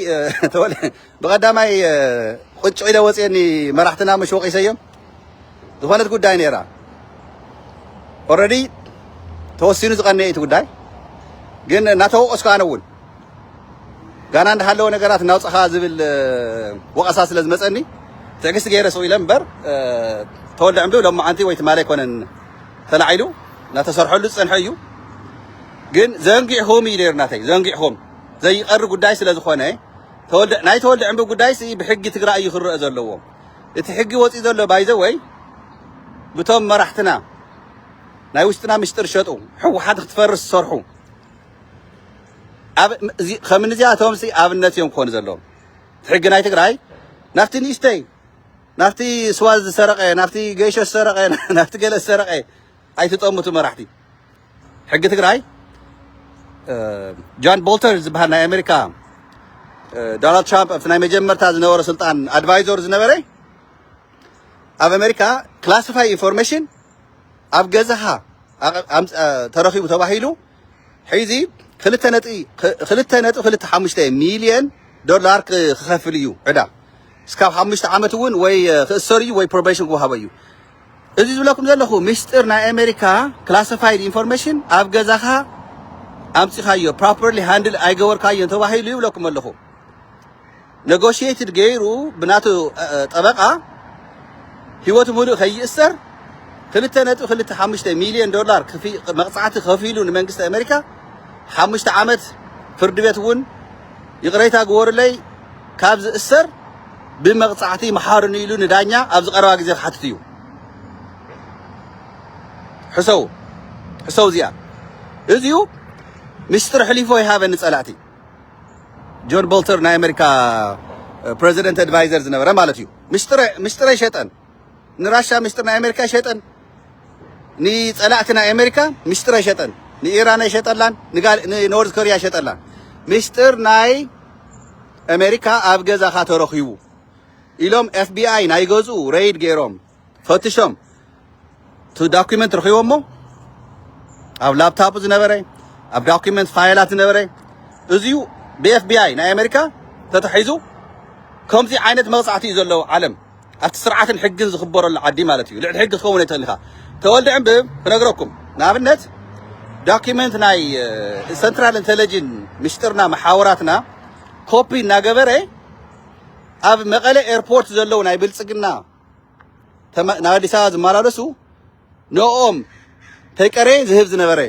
ብቐዳማይ ቁጭ ኢለ ወፅየኒ መራሕትና ምሽ ወቒሰዮም ዝኾነት ጉዳይ ነይራ ኦልሬዲ ተወሲኑ ዝቐነየ እቲ ጉዳይ ግን እናተወቀስኩ ኣነ እውን ጋና እንዳሃለወ ነገራት እናውፃኻ ዝብል ወቐሳ ስለ ዝመፀኒ ትዕግስቲ ገይረ ስቕ ኢለ እምበር ተወልደ ዕምዱ ሎማዓንቲ ወይ ትማሊ ኣይኮነን ተላዒሉ እናተሰርሐሉ ዝፀንሐ እዩ ግን ዘንጊዕኹም እዩ ነይሩ ናተይ ዘንጊዕኹም ዘይቀሪ ጉዳይ ስለ ዝኾነ ተወልደ ናይ ተወልደ ዕምዱ ጉዳይ ሲ ብሕጊ ትግራይ እዩ ክረአ ዘለዎ እቲ ሕጊ ወፂኡ ዘሎ ባይዘ ወይ ብቶም መራሕትና ናይ ውሽጥና ምስጢር ሸጡ ሕወሓት ክትፈርስ ዝሰርሑ ከምንዚኣቶምሲ ኣብነት እዮም ክኾኑ ዘለዎም። ሕጊ ናይ ትግራይ ናብቲ ንእሽተይ ናብቲ ስዋ ዝሰረቀ ናብቲ ገይሾ ዝሰረቀ ናብቲ ገለ ዝሰረቀ ኣይትጠምቱ መራሕቲ። ሕጊ ትግራይ ጃን ቦልተር ዝበሃል ናይ ኣሜሪካ ዶናልድ ትራምፕ ኣብቲ ናይ መጀመርታ ዝነበረ ስልጣን ኣድቫይዘር ዝነበረ ኣብ ኣሜሪካ ክላሲፋይ ኢንፎርሜሽን ኣብ ገዛኻ ተረኺቡ ተባሂሉ ሕዚ ክልተ ነጥቢ ክልተ ነጥቢ ክልተ ሓሙሽተ ሚልዮን ዶላር ክኸፍል እዩ ዕዳ እስካብ ሓሙሽተ ዓመት እውን ወይ ክእሰር እዩ ወይ ፕሮቤሽን ክወሃቦ እዩ እዚ ዝብለኩም ዘለኹ ምስጢር ናይ ኣሜሪካ ክላሲፋይድ ኢንፎርሜሽን ኣብ ገዛኻ ኣምፂኻዮ ፕሮፐርሊ ሃንድል ኣይገበርካዮን ተባሂሉ ይብለኩም ኣለኹ ነጎሽየትድ ገይሩ ብናቱ ጠበቓ ህይወቱ ምሉእ ከይእሰር ክልተ ነጥቢ ክልተ ሓሙሽተ ሚልዮን ዶላር መቕጻዕቲ ከፊሉ ንመንግስቲ ኣሜሪካ ሓሙሽተ ዓመት ፍርዲ ቤት እውን ይቕረይታ ግበሩለይ ካብ ዝእሰር ብመቕጻዕቲ መሓርኑ ኢሉ ንዳኛ ኣብዚ ቀረባ ግዜ ክሓትት እዩ ሕሰው ሕሰው እዚኣ እዚዩ ምስጢር ሕሊፎ ይሃበኒ ጸላእቲ ጆን ቦልተር ናይ ኣሜሪካ ፕረዚደንት ኣድቫይዘር ዝነበረ ማለት እዩ ምስጢረ ሸጠን ንራሻ ምስጢር ናይ ኣሜሪካ ሸጠን ንፀላእቲ ናይ ኣሜሪካ ምስጢረ ሸጠን ንኢራን ኣይሸጠላን ንኖርዝ ኮሪያ ሸጠላን ምስጢር ናይ ኣሜሪካ ኣብ ገዛኻ ተረኺቡ ኢሎም ኤፍቢኣይ ናይ ገዝኡ ረይድ ገይሮም ፈትሾም እቲ ዳኩመንት ረኺቦሞ ኣብ ላፕታፑ ዝነበረ ኣብ ዳኩመንት ፋይላት ዝነበረ እዚዩ ብኤፍቢኣይ ናይ ኣሜሪካ ተታሒዙ ከምዚ ዓይነት መቕጻዕቲ እዩ ዘለዎ ዓለም ኣብቲ ስርዓትን ሕግን ዝኽበረሉ ዓዲ ማለት እዩ ልዕሊ ሕጊ ክኸውን ኣይትኽእል ኢኻ ተወልደ ዕምብብ ክነግረኩም ንኣብነት ዳኪመንት ናይ ሰንትራል ኢንተለጅን ምሽጥርና መሓወራትና ኮፒ እናገበረ ኣብ መቐለ ኤርፖርት ዘለዉ ናይ ብልፅግና ተመ- ናብ ኣዲስ ኣበባ ዝመላለሱ ንኦም ተይቀሬ ዝህብ ዝነበረ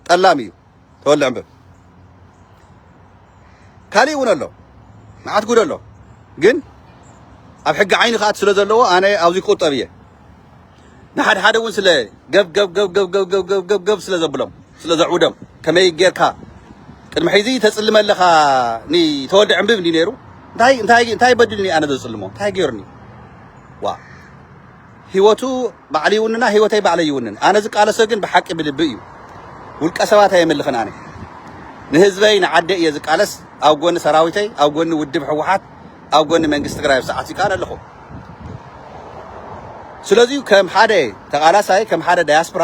ጠላም እዩ ተወልዕ እምበር ካሊእ እውን ኣሎ መዓት ጉድ ኣሎ ግን ኣብ ሕጊ ዓይኒ ክኣት ስለ ዘለዎ ኣነ ኣብዚ ክቁጠብ እየ ንሓድሓደ እውን ስለ ገብገብገብገብገብገብገብገብ ስለ ዘብሎም ስለ ዘዕውዶም ከመይ ጌርካ ቅድሚ ሕዚ ተጽልመ ኣለኻ ንተወልደ ዕምብብ እንዲ ነይሩ እንታይ እንታይ እንታይ በዲልኒ ኣነ ዘጽልሞ እንታይ ገይሩኒ ዋ ህይወቱ ባዕሉ ይውንና ህይወተይ ባዕለይ ይውንን ኣነ ዝቃለሶ ግን ብሓቂ ብልቢ እዩ ውልቀ ሰባት ኣየምልኽን ኣነ ንህዝበይ ንዓደ እየ ዝቃለስ ኣብ ጎኒ ሰራዊተይ ኣብ ጎኒ ውድብ ህወሓት ኣብ ጎኒ መንግስቲ ትግራይ ኣብ ሰዓቱ ይከኣል ኣለኹ። ስለዚዩ ከም ሓደ ተቓላሳይ ከም ሓደ ዳያስፕራ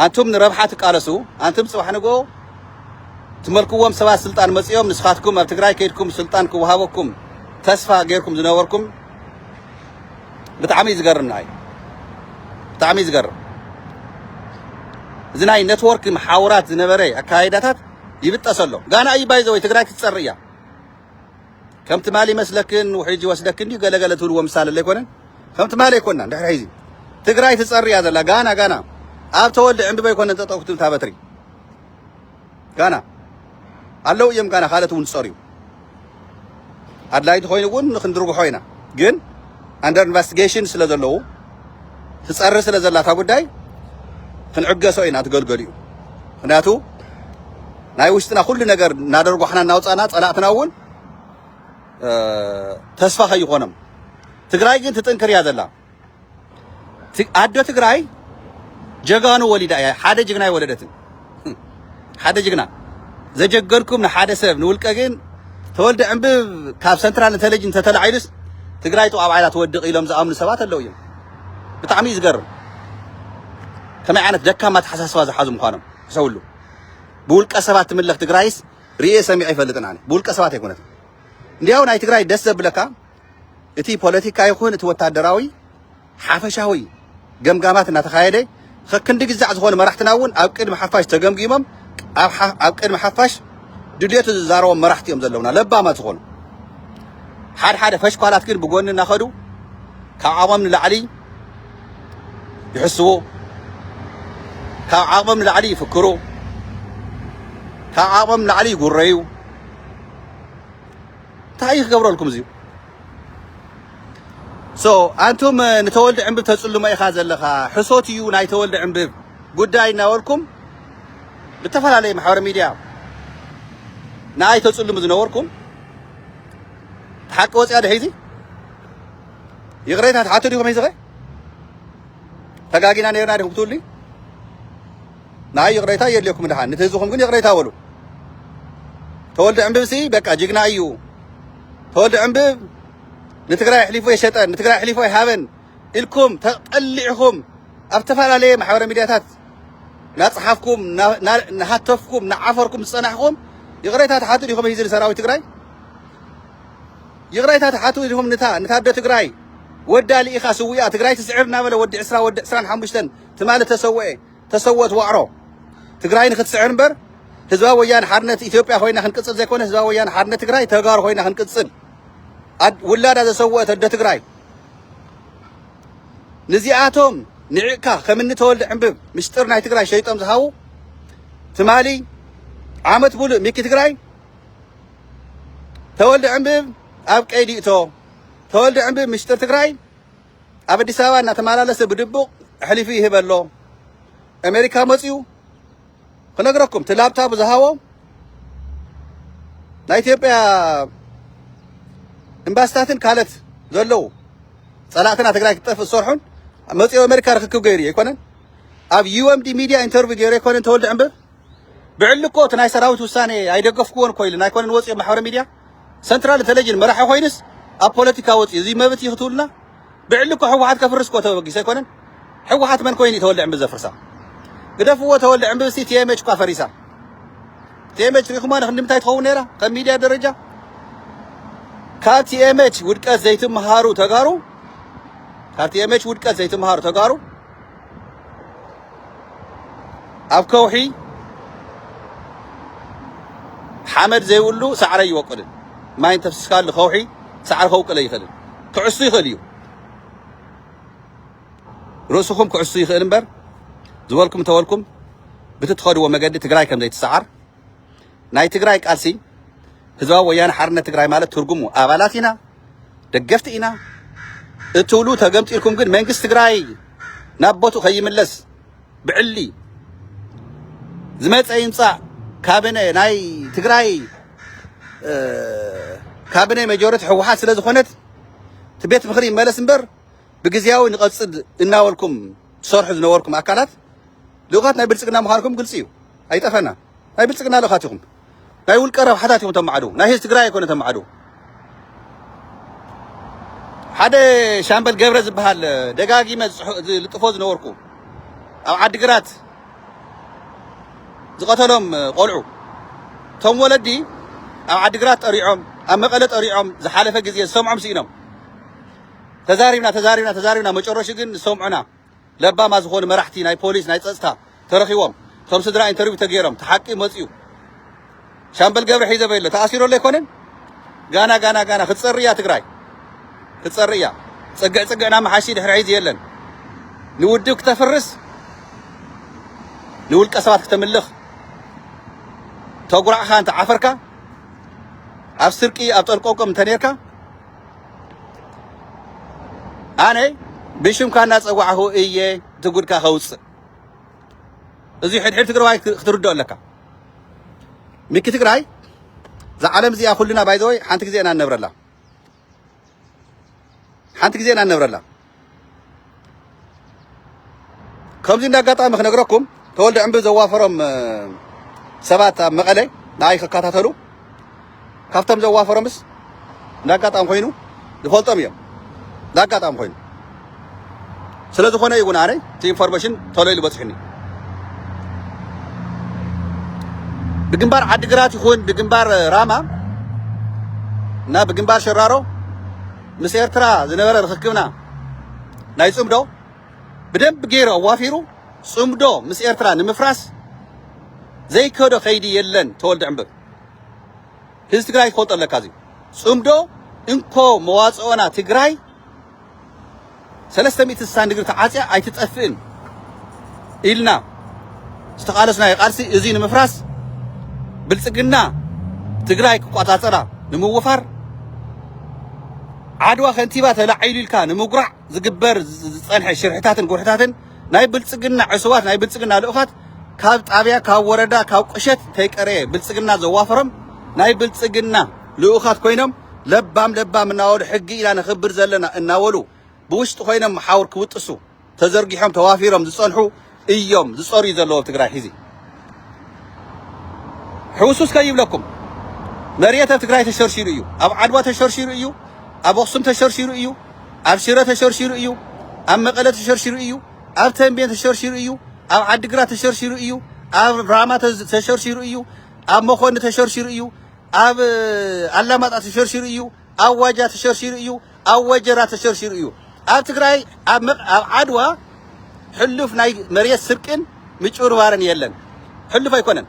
ኣንቱም ንረብሓ ትቃለሱ ኣንቱም ጽባሕ ንግሆ ትመልክዎም ሰባት ስልጣን መጽኦም ንስኻትኩም ኣብ ትግራይ ከይድኩም ስልጣን ክወሃበኩም ተስፋ ጌርኩም ዝነበርኩም ብጣዕሚ እዩ ዝገርም ንዓይ ብጣዕሚ እዩ ዝገርም እዚ ናይ ኔትወርክ መሓውራት ዝነበረ ኣካይዳታት ይብጠሰሎ ጋና እዩ ባይዘወይ ትግራይ ክትጸር እያ ከም ትማሊ ይመስለክን ውሒጅ ይወስደክን ድዩ ገለ ገለ ትብልዎ ምሳለ ለይኮነን ከም ትማሊ ኣይኮናን ድሕሪ ሕዚ ትግራይ ትፀሪ እያ ዘላ ጋና ጋና ኣብ ተወልደ ዕንብበ ኣይኮነን ጠጠው ክትብል እታ በትሪ ጋና ኣለዉ እዮም ጋና ካልኦት እውን ዝፀርዩ ኣድላይ እንተኾይኑ እውን ክንድርግሖ ኢና ግን ኣንደር ኢንቨስቲጌሽን ስለ ዘለዉ ትጸሪ ስለ ዘላ እታ ጉዳይ ክንዕገሶ ኢና እቲ ገልገሊኡ ምክንያቱ ናይ ውሽጥና ኩሉ ነገር እናደርጓሕና እናውፃና ፀላእትና እውን ተስፋ ከይኾኖም ትግራይ ግን ትጥንክር እያ ዘላ ኣዶ ትግራይ ጀጋኑ ወሊዳ እያ ሓደ ጅግና የወለደትን ሓደ ጅግና ዘጀገርኩም ንሓደ ሰብ ንውልቀ ግን ተወልደ ዕንብብ ካብ ሰንትራል ኢንተለጅን ተተላዒሉስ ትግራይ ጥዋብ ዓይላ ትወድቕ ኢሎም ዝኣምኑ ሰባት ኣለዉ እዮም ብጣዕሚ እዩ ዝገርም ከመይ ዓይነት ደካማ ተሓሳስባ ዝሓዙ ምዃኖም ሕሰብሉ ብውልቀ ሰባት ትምለኽ ትግራይስ ርኤ ሰሚዐ ይፈልጥን ኣነ ብውልቀ ሰባት ኣይኮነትን እንዲያው ናይ ትግራይ ደስ ዘብለካ እቲ ፖለቲካ ይኹን እቲ ወታደራዊ ሓፈሻዊ ገምጋማት እናተኻየደ ኸክንዲ ግዛዕ ዝኾኑ መራሕትና እውን ኣብ ቅድሚ ሓፋሽ ተገምጊሞም ኣብ ቅድሚ ሓፋሽ ድልየቱ ዝዛረቦም መራሕቲ እዮም ዘለውና ለባማት ዝኾኑ ሓደ ሓደ ፈሽኳላት ግን ብጎኒ እናኸዱ ካብ ዓቕሞም ንላዕሊ ይሕስቡ ካብ ዓቕሞም ንላዕሊ ይፍክሩ ካብ ዓቕሞም ንላዕሊ ይጉረዩ እንታይ እዩ ክገብረልኩም እዚዩ So ኣንቱም ንተወልደ ዕንብብ ተጽልሞ ኢኻ ዘለኻ ሕሶት እዩ ናይ ተወልደ ዕንብብ ጉዳይ እናበልኩም ብተፈላለየ ማሕበረ ሚድያ ንኣይ ተጽልሙ ዝነበርኩም ሓቂ ወጽያ ድሒዚ ይቕሬታ ትሓቱ ዲኹም ሒዝኸ ተጋጊና ነርና ዲኹም ክትብሉ ንኣይ ይቕሬታ የድልየኩም ድሓን ነቲ ህዝብኹም ግን ይቕሬታ በሉ ተወልደ ዕንብብሲ በቃ ጅግና እዩ ተወልደ ዕንብብ ንትግራይ ኣሕሊፉ ኣይሸጠን ንትግራይ ኣሕሊፉ ኣይሃበን ኢልኩም ተጠሊዕኹም ኣብ ዝተፈላለየ ማሕበረ ሚድያታት ናፅሓፍኩም ናሃተፍኩም ናዓፈርኩም ዝፀናሕኹም ይቕሬታ ትሓቱ ዲኹም ሂዚ ንሰራዊት ትግራይ ይቕሬታ ትሓቱ ዲኹም ንታ ንታደ ትግራይ ወዳ ልኢኻ ስዊኣ ትግራይ ትስዕር እናበለ ወዲ ዕስራ ወዲ ዕስራን ሓሙሽተን ትማሊ ተሰውኤ ተሰወት ዋዕሮ ትግራይ ንክትስዕር እምበር ህዝባዊ ወያነ ሓርነት ኢትዮጵያ ኮይና ክንቅፅል ዘይኮነ ህዝባዊ ወያነ ሓርነት ትግራይ ተጋሩ ኮይና ክንቅፅል ውላዳ ዘሰወአት ኣደ ትግራይ ንዚኣቶም ንዕቅካ ከምኒ ተወልደ ዕንብብ ምስጢር ናይ ትግራይ ሸይጦም ዝሃቡ ትማሊ ዓመት ሙሉእ ሚኪ ትግራይ ተወልደ ዕንብብ ኣብ ቀይዲ እቶ ተወልደ ዕንብብ ምስጢር ትግራይ ኣብ ኣዲስ ኣበባ እናተመላለሰ ብድቡቕ ኣሕሊፉ ይህበ ኣሎ። ኣሜሪካ መፂኡ ክነግረኩም እቲ ላብታቡ ዝሃቦ ናይ ኢትዮጵያ ኤምባሲታትን ካልኦት ዘለዉ ፀላእትና ትግራይ ክትጠፍእ ዝሰርሑን መፂኦ ኣሜሪካ ርክክብ ገይሩ እዩ ኣይኮነን ኣብ ዩኤምዲ ሚድያ ኢንተርቪው ገይሩ ኣይኮነን ተወልደ ዕንብብ ብዕሊ እኮ እቲ ናይ ሰራዊት ውሳኔ ኣይደገፍኩዎን እኮ ኢልና ኣይኮነን ወፂኦ ማሕበረ ሚድያ ሰንትራል ተለጅን መራሒ ኮይኑስ ኣብ ፖለቲካ ወፂኡ እዚ መብት እዩ ክትብሉና ብዕሊ እኮ ሕወሓት ከፍርስ እኮ ተበጊሱ ኣይኮነን ሕወሓት መን ኮይኑ ተወልደ ዕንቢ ዘፍርሳ ግደፍዎ ተወልደ ዕንቢ ሲ ቲኤምኤች እኳ ፈሪሳ ቲኤምኤች ሪኢኹማ ንክንድምታይ ትኸውን ነይራ ከም ሚድያ ደረጃ ካብ ቲኤምኤች ውድቀት ዘይትምሃሩ ተጋሩ ካብ ቲኤምኤች ውድቀት ዘይትምሃሩ ተጋሩ ኣብ ከውሒ ሓመድ ዘይብሉ ሳዕሪ ኣይወቅልን። ማይ እንተፍስስካሉ ከውሒ ሳዕሪ ከውቅል ኣይኽእልን። ክዕሱ ይኽእል እዩ፣ ርእስኹም ክዕሱ ይኽእል እምበር ዝበልኩም እንተበልኩም ብቲ ትኸድዎ መገዲ ትግራይ ከም ዘይትሰዓር ናይ ትግራይ ቃልሲ ህዝባዊ ወያነ ሓርነት ትግራይ ማለት ትርጉሙ ኣባላት ኢና ደገፍቲ ኢና እትብሉ ተገምጢልኩም ግን መንግስቲ ትግራይ ናብ ቦትኡ ከይምለስ ብዕሊ ዝመፀ ይምፃእ ካቢነ ናይ ትግራይ ካቢነ መጆሪቲ ህወሓት ስለ ዝኾነት እቲ ቤት ምኽሪ ይመለስ እምበር ብግዜያዊ ንቐፅል እናበልኩም ትሰርሑ ዝነበርኩም ኣካላት ልኡኻት ናይ ብልፅግና ምዃንኩም ግልፂ እዩ፣ ኣይጠፈናን። ናይ ብልፅግና ልኡኻት ኢኹም። ናይ ውልቀ ረብሓታት ኢኹም ተማዕድው። ናይ ህዝቢ ትግራይ ኣይኮነ ተማዕድው። ሓደ ሻምበል ገብረ ዝበሃል ደጋጊመ ዝልጥፎ ዝነበርኩ ኣብ ዓዲግራት ዝቐተሎም ቆልዑ እቶም ወለዲ ኣብ ዓዲግራት ጠሪዖም ኣብ መቐለ ጠሪዖም ዝሓለፈ ግዜ ዝሰምዖም ስኢኖም ተዛሪብና ተዛሪብና ተዛሪብና መጨረሹ ግን ዝሰምዑና ለባማ ዝኾኑ መራሕቲ ናይ ፖሊስ ናይ ፀፅታ ተረኺቦም እቶም ስድራ ኢንተርቪው ተገይሮም እቲ ሓቂ መፂኡ ሻምበል ገብረ ሒዘ በሎ ተኣሲሩ ኣሎ ኣይኮነን ጋና ጋና ጋና ክትፀሪ እያ ትግራይ ክትፀሪ እያ ፅግዕ ፅግዕ ናብ መሓሺ ድሕሪ ሒዚ የለን ንውድብ ክተፍርስ ንውልቀ ሰባት ክተምልኽ ተጉራዕኻ እንተ ዓፈርካ ኣብ ስርቂ ኣብ ጠልቆቆም እንተ ነርካ ኣነ ብሽምካ እናፀዋዕኹ እየ እቲ ጉድካ ከውፅእ እዚ ሕድሕድ ትግራዋይ ክትርድኦ ኣለካ ሚኪ ትግራይ እዛ ዓለም እዚኣ ኩልና ባይዘወይ ሓንቲ ግዜ ኢና ንነብረላ ሓንቲ ግዜ ኢና ንነብረላ ከምዚ እንደ ኣጋጣሚ ክነግረኩም ተወልደ ዕንቢ ዘዋፈሮም ሰባት ኣብ መቐለ ንኣይ ክከታተሉ ካብቶም ዘዋፈሮምስ እንደ ኣጋጣሚ ኮይኑ ዝፈልጦም እዮም እንደ ኣጋጣሚ ኮይኑ ስለ ዝኾነ እዩ እውን ኣነ እቲ ኢንፎርሜሽን ተሎ ኢሉ በፂሑኒ ብግንባር ዓዲግራት ይኹን ብግንባር ራማ እና ብግንባር ሸራሮ ምስ ኤርትራ ዝነበረ ርኽክብና ናይ ጽምዶ ብደንብ ገይሩ ኣዋፊሩ ጽምዶ ምስ ኤርትራ ንምፍራስ ዘይከዶ ከይዲ የለን ተወልደ ዕምበብ ህዝቢ ትግራይ ክፈልጦ ኣለካ እዚ ጽምዶ እንኮ መዋጽኦና ትግራይ ሰለስተ ሚእቲ ስሳ ንግሪ ተዓጽያ ኣይትጠፍእን ኢልና ዝተቓለስናዮ ቃልሲ እዙይ ንምፍራስ ብልፅግና ትግራይ ክቋፃፀራ ንምውፋር ዓድዋ ከንቲባ ተላዒሉ ኢልካ ንምጉራዕ ዝግበር ዝፀንሐ ሽርሕታትን ጉርሕታትን ናይ ብልፅግና ዕሱባት ናይ ብልፅግና ልኡኻት ካብ ጣብያ ካብ ወረዳ ካብ ቁሸት ተይቀረየ ብልፅግና ዘዋፈሮም ናይ ብልፅግና ልኡኻት ኮይኖም ለባም ለባም እናበሉ ሕጊ ኢና ነኽብር ዘለና እናበሉ ብውሽጢ ኮይኖም ሓውር ክብጥሱ ተዘርጊሖም ተዋፊሮም ዝፀንሑ እዮም ዝፀርዩ ዘለዉ ኣብ ትግራይ ሕዚ ሕውስውስ ከይብለኩም መሬት ኣብ ትግራይ ተሸርሺሩ እዩ ኣብ ዓድዋ ተሸርሺሩ እዩ ኣብ ኣኽሱም ተሸርሺሩ እዩ ኣብ ሽረ ተሸርሺሩ እዩ ኣብ መቐለ ተሸርሺሩ እዩ ኣብ ተንቤን ተሸርሺሩ እዩ ኣብ ዓዲግራት ተሸርሺሩ እዩ ኣብ ራማ ተሸርሺሩ እዩ ኣብ መኾኒ ተሸርሺሩ እዩ ኣብ ኣላማጣ ተሸርሺሩ ኢዩ፣ ኣብ ዋጃ ተሸርሺሩ ኢዩ፣ ኣብ ወጀራ ተሸርሺሩ ኢዩ። ኣብ ትግራይ ኣብ መቅ ኣብ ዓድዋ ሕሉፍ ናይ መሬት ስርቅን ምጭብርባርን የለን። ሕሉፍ ኣይኮነን።